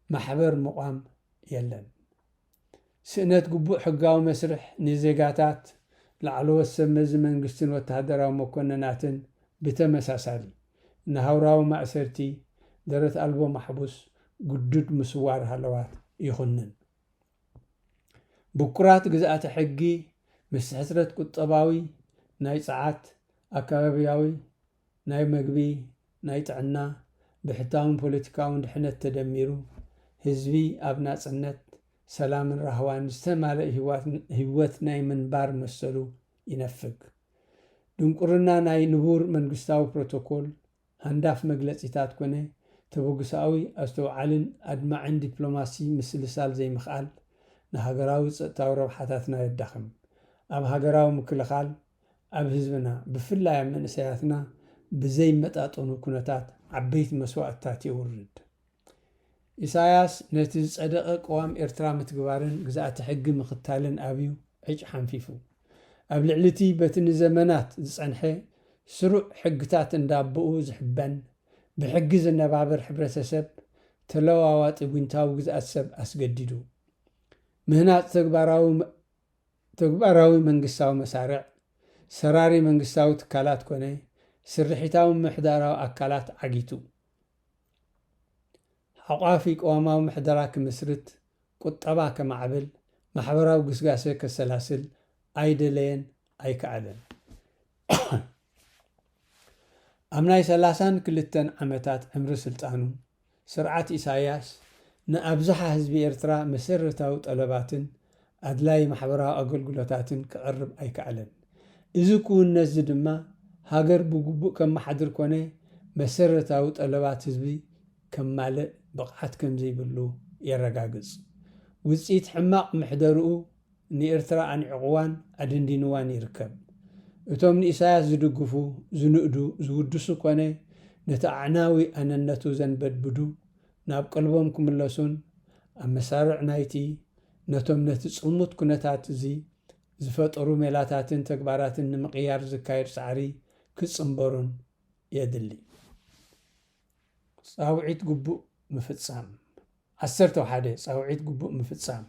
S1: ማሕበር ምቛም የለን። ስእነት ግቡእ ሕጋዊ መስርሕ ንዜጋታት፣ ላዕለዎት ሰብ መዚ መንግስትን ወተሃደራዊ መኮነናትን ብተመሳሳሊ፣ ንሃውራዊ ማእሰርቲ፣ ደረት ኣልቦ ማሕቡስ፣ ግዱድ ምስዋር ሃለዋት ይኹንን። ብኩራት ግዝኣተ ሕጊ ምስ ሕስረት ቁጠባዊ፣ ናይ ጸዓት፣ ኣከባቢያዊ፣ ናይ መግቢ፣ ናይ ጥዕና፣ ብሕታውን ፖለቲካውን ድሕነት ተደሚሩ፣ ህዝቢ ኣብ ናጽነት፣ ሰላምን ራህዋን ዝተማልእ ህይወት ናይ ምንባር መሰሉ ይነፍግ። ድንቁርና ናይ ንቡር መንግስታዊ ፕሮቶኮል፣ ሃንዳፍ መግለጺታት ኮነ ተበግሶኣዊ ኣስተውዓልን ኣድማዕን ዲፕሎማሲ ምስልሳል ዘይምኽኣል ንሃገራዊ ጸጥታዊ ረብሓታትና የዳኽም። ኣብ ሃገራዊ ምክልኻል ኣብ ህዝብና ብፍላይ ኣብ መንእሰያትና ብዘይመጣጠኑ ኩነታት ዓበይቲ መስዋእትታት የውርድ። ኢሳያስ ነቲ ዝጸደቐ ቅዋም ኤርትራ ምትግባርን ግዝኣተ ሕጊ ምኽታልን ኣብዩ ዕጭ ሓንፊፉ። ኣብ ልዕሊቲ በቲ ንዘመናት ዝጸንሐ ስሩዕ ሕግታት እንዳቦኡ ዝሕበን ብሕጊ ዝነባበር ሕብረተሰብ ተለዋዋጢ ጒንታዊ ግዝኣት ሰብ ኣስገዲዱ ምህናጽ ተግባራዊ ተግባራዊ መንግስታዊ መሳርዕ፣ ሰራሪ መንግስታዊ ትካላት ኮነ ስርሒታዊ ምምሕዳራዊ ኣካላት ዓጊቱ። ሓቋፊ ቅዋማዊ ምሕደራ ክምስርት፣ ቁጠባ ከማዕብል፣ ማሕበራዊ ግስጋሰ ከሰላስል ኣይደለየን ኣይከኣለን። ኣብ ናይ ሰላሳን ክልተን ዓመታት ዕምሪ ስልጣኑ፣ ስርዓት ኢሳይያስ ንኣብዝሓ ህዝቢ ኤርትራ መሰረታዊ ጠለባትን ኣድላዪ ማሕበራዊ ኣገልግሎታትን ከቕርብ ኣይከኣለን። እዚ ክውንነትዚ ድማ ሃገር ብግቡእ ከመሓድር ኮነ መሰረታዊ ጠለባት ህዝቢ ከማልእ ብቕዓት ከምዘይብሉ የረጋግጽ። ውጽኢት ሕማቕ ምሕደርኡ ንኤርትራ ኣንዒቕዋን ኣደንዲንዋን ይርከብ። እቶም ንኢሳያስ ዝድግፉ፣ ዝንእዱ፣ ዝውድሱ ኮነ ነቲ ኣዕናዊ ኣነነቱ ዘንበድብዱ ናብ ቀልቦም ክምለሱን ኣብ መሳርዕ ናይቲ ነቶም ነቲ ጽልሙት ኩነታት እዚ ዝፈጠሩ ሜላታትን ተግባራትን ንምቕያር ዝካየድ ጻዕሪ ክጽንበሩን የድሊ። ጻውዒት ግቡእ ምፍጻም ዓሰርተ ሓደ ጻውዒት ግቡእ ምፍጻም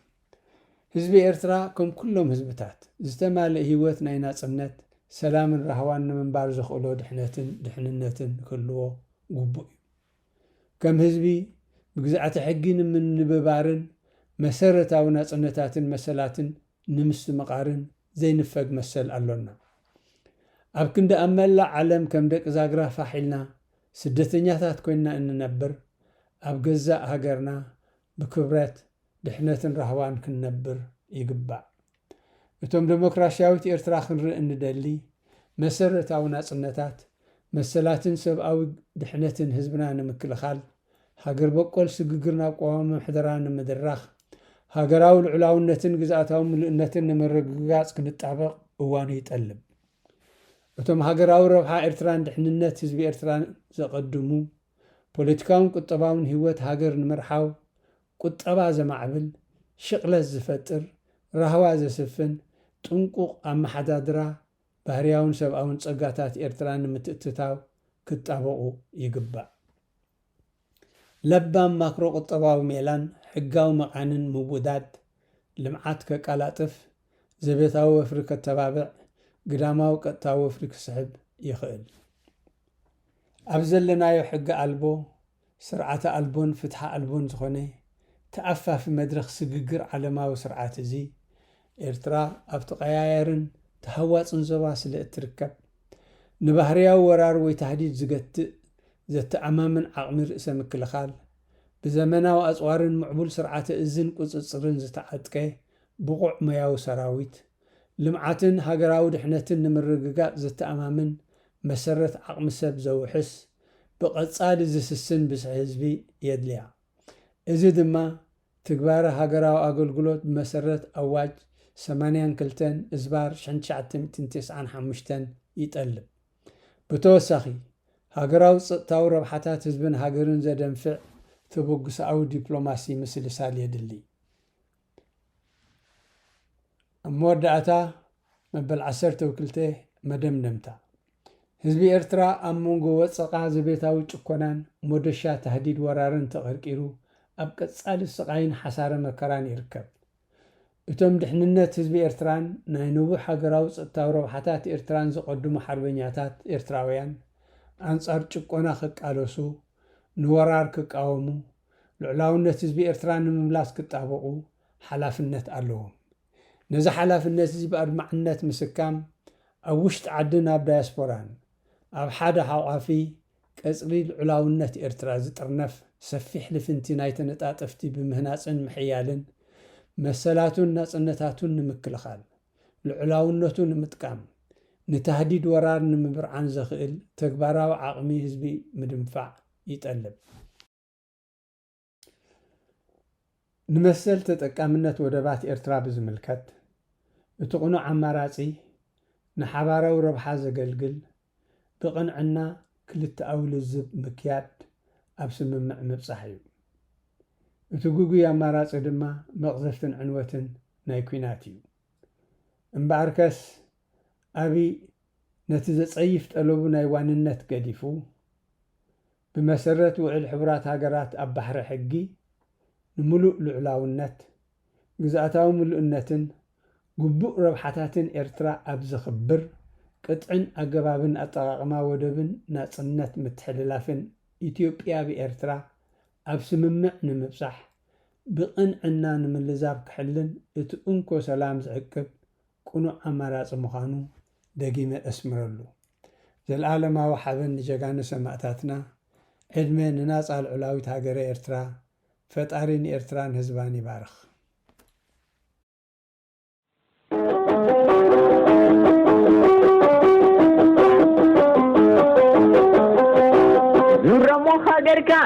S1: ህዝቢ ኤርትራ ከም ኩሎም ህዝብታት፣ ዝተማልእ ህይወት ናይ ናጽነት፣ ሰላምን ራህዋን ንምንባር ዘኽእሎ ድሕነትን ድሕንነትን ክህልዎ ግቡእ እዩ። ከም ህዝቢ ብግዝኣተ ሕጊ ንምንብባርን መሰረታዊ ናጽነታትን መሰላትን ንምስትምቓርን ዘይንፈግ መሰል ኣሎና። ኣብ ክንዲ ኣብ መላእ ዓለም ከም ደቂ ዛግራ ፋሕ ኢልና ስደተኛታት ኮይንና እንነብር፣ ኣብ ገዛእ ሃገርና ብክብረት፣ ድሕነትን ራህዋን ክንነብር ይግባእ። እቶም ደሞክራሲያዊት ኤርትራ ክንርኢ እንደሊ፣ መሰረታዊ ናጽነታት፣ መሰላትን ሰብኣዊ ድሕነትን ህዝብና ንምክልኻል፣ ሃገር በቆል ስግግር ናብ ቅዋማዊ ምሕደራ ንምድራኽ፣ ሃገራዊ ልዑላውነትን ግዝኣታዊ ምሉእነትን ንምርግጋጽ ክንጣበቕ እዋኑ ይጠልብ። እቶም ሃገራዊ ረብሓ ኤርትራን ድሕንነት ህዝቢ ኤርትራን ዘቐድሙ፣ ፖለቲካውን ቁጠባውን ህይወት ሃገር ንምርሓው ቁጠባ ዘማዕብል፣ ሽቕለት ዝፈጥር፣ ራህዋ ዘስፍን፣ ጥንቁቕ ኣመሓዳድራ ባህርያውን ሰብኣውን ጸጋታት ኤርትራ ንምትእትታው ክጣበቑ ይግባእ። ለባም ማክሮ ቁጠባዊ ሜላን ሕጋዊ መቓንን ምውዳድ፣ ልምዓት ከቃላጥፍ፣ ዘቤታዊ ወፍሪ ከተባብዕ፣ ግዳማዊ ቀጥታዊ ወፍሪ ክስሕብ ይኽእል። ኣብ ዘለናዮ ሕገ ኣልቦ ስርዓተ ኣልቦን ፍትሒ ኣልቦን ዝኾነ ተኣፋፊ መድረኽ ስግግር ዓለማዊ ስርዓት እዚ፣ ኤርትራ ኣብ ተቐያያርን ተሃዋጽን ዞባ ስለ እትርከብ፣ ንባህርያዊ ወራር ወይ ታህዲድ ዝገትእ ዘተኣማምን ዓቕሚ ርእሰ ምክልኻል፣ ብዘመናዊ ኣጽዋርን ምዕቡል ስርዓተ እዝን ቁጽጽርን ዝተዓጥቀ ብቑዕ ሞያዊ ሰራዊት፣ ልምዓትን ሃገራዊ ድሕነትን ንምርግጋጽ ዘተኣማምን መሰረት ዓቕሚ ሰብ ዘውሕስ፣ ብቐጻሊ ዝስስን ብዝሒ ህዝቢ የድልያ። እዚ ድማ ትግባረ ሃገራዊ ኣገልግሎት ብመሰረት ኣዋጅ ሰማንያን ክልተን እዝባር ሽሕን ትሽዓተ ሚእትን ተስዓን ሓሙሽተን ይጠልብ። ብተወሳኺ፣ ሃገራዊ ጸጥታዊ ረብሓታት ህዝብን ሃገርን ዘደንፍዕ ተበግሶኣዊ ዲፕሎማሲ ምስልሳል የድሊ። ኣብ መወዳእታ መበል ዓሰርተው ክልተ መደምደምታ ህዝቢ ኤርትራ ኣብ መንጎ ወጽቓ ዘቤታዊ ጭኮናን ሞደሻ ታህዲድ ወራርን ተቐርቂሩ ኣብ ቀጻሊ ስቓይን ሓሳረ መከራን ይርከብ። እቶም ድሕንነት ህዝቢ ኤርትራን ናይ ንቡር ሃገራዊ ጸጥታዊ ረብሓታት ኤርትራን ዘቐድሙ ሓርበኛታት ኤርትራውያን ኣንጻር ጭቆና ክቃለሱ፣ ንወራር ክቃወሙ፣ ልዑላውነት ህዝቢ ኤርትራ ንምምላስ ክጣበቑ ሓላፍነት ኣለዎም። ነዚ ሓላፍነት'ዚ ብኣድማዕነት ምስካም፣ ኣብ ውሽጢ ዓድን ኣብ ዳያስፖራን፣ ኣብ ሓደ ሓቋፊ ቀጽሪ ልዑላውነት ኤርትራ ዝጥርነፍ ሰፊሕ ልፍንቲ ናይ ተነጣጠፍቲ ብምህናጽን ምሕያልን፣ መሰላቱን ናጽነታቱን ንምክልኻል፣ ልዑላውነቱ ንምጥቃም፣ ንታህዲድ ወራር ንምብርዓን ዘኽእል ተግባራዊ ዓቕሚ ህዝቢ ምድንፋዕ፣ ይጠልብ። ንመሰል ተጠቃምነት ወደባት ኤርትራ ብዝምልከት፣ እቲ ቅኑዕ ኣማራጺ፣ ንሓባራዊ ረብሓ ዘገልግል፣ ብቕንዕና ክልተኣዊ ልዝብ ምክያድ፣ ኣብ ስምምዕ ምብጻሕ እዩ። እቲ ግጉይ ኣማራጺ ድማ መቕዘፍትን ዕንወትን ናይ ኲናት እዩ። እምበኣርከስ፣ ኣብይ፣ ነቲ ዘጸይፍ ጠለቡ ናይ ዋንነት ገዲፉ፣ ብመሰረት ውዕል ሕቡራት ሃገራት ኣብ ባሕሪ ሕጊ ንምሉእ ልዑላውነት፣ ግዝኣታዊ ምሉእነትን ግቡእ ረብሓታትን ኤርትራ ኣብ ዘኽብር ቅጥዕን ኣገባብን ኣጠቓቕማ ወደብን ናጽነት ምትሕልላፍን ኢትዮጵያ ብኤርትራ ኣብ ስምምዕ ንምብጻሕ ብቕንዕና ንምልዛብ ክሕልን እቲ እንኮ ሰላም ዝዕቅብ ቅኑዕ ኣማራጺ ምዃኑ ደጊመ እስምረሉ። ዘልኣለማዊ ሓበን ንጀጋኑ ሰማእታትና፣ ዕድመ ንናጻ ልዑላዊት ሃገረ ኤርትራ፣ ፈጣሪ ንኤርትራን ህዝባን ይባርኽ። ኑረሞ
S2: ሃገርካ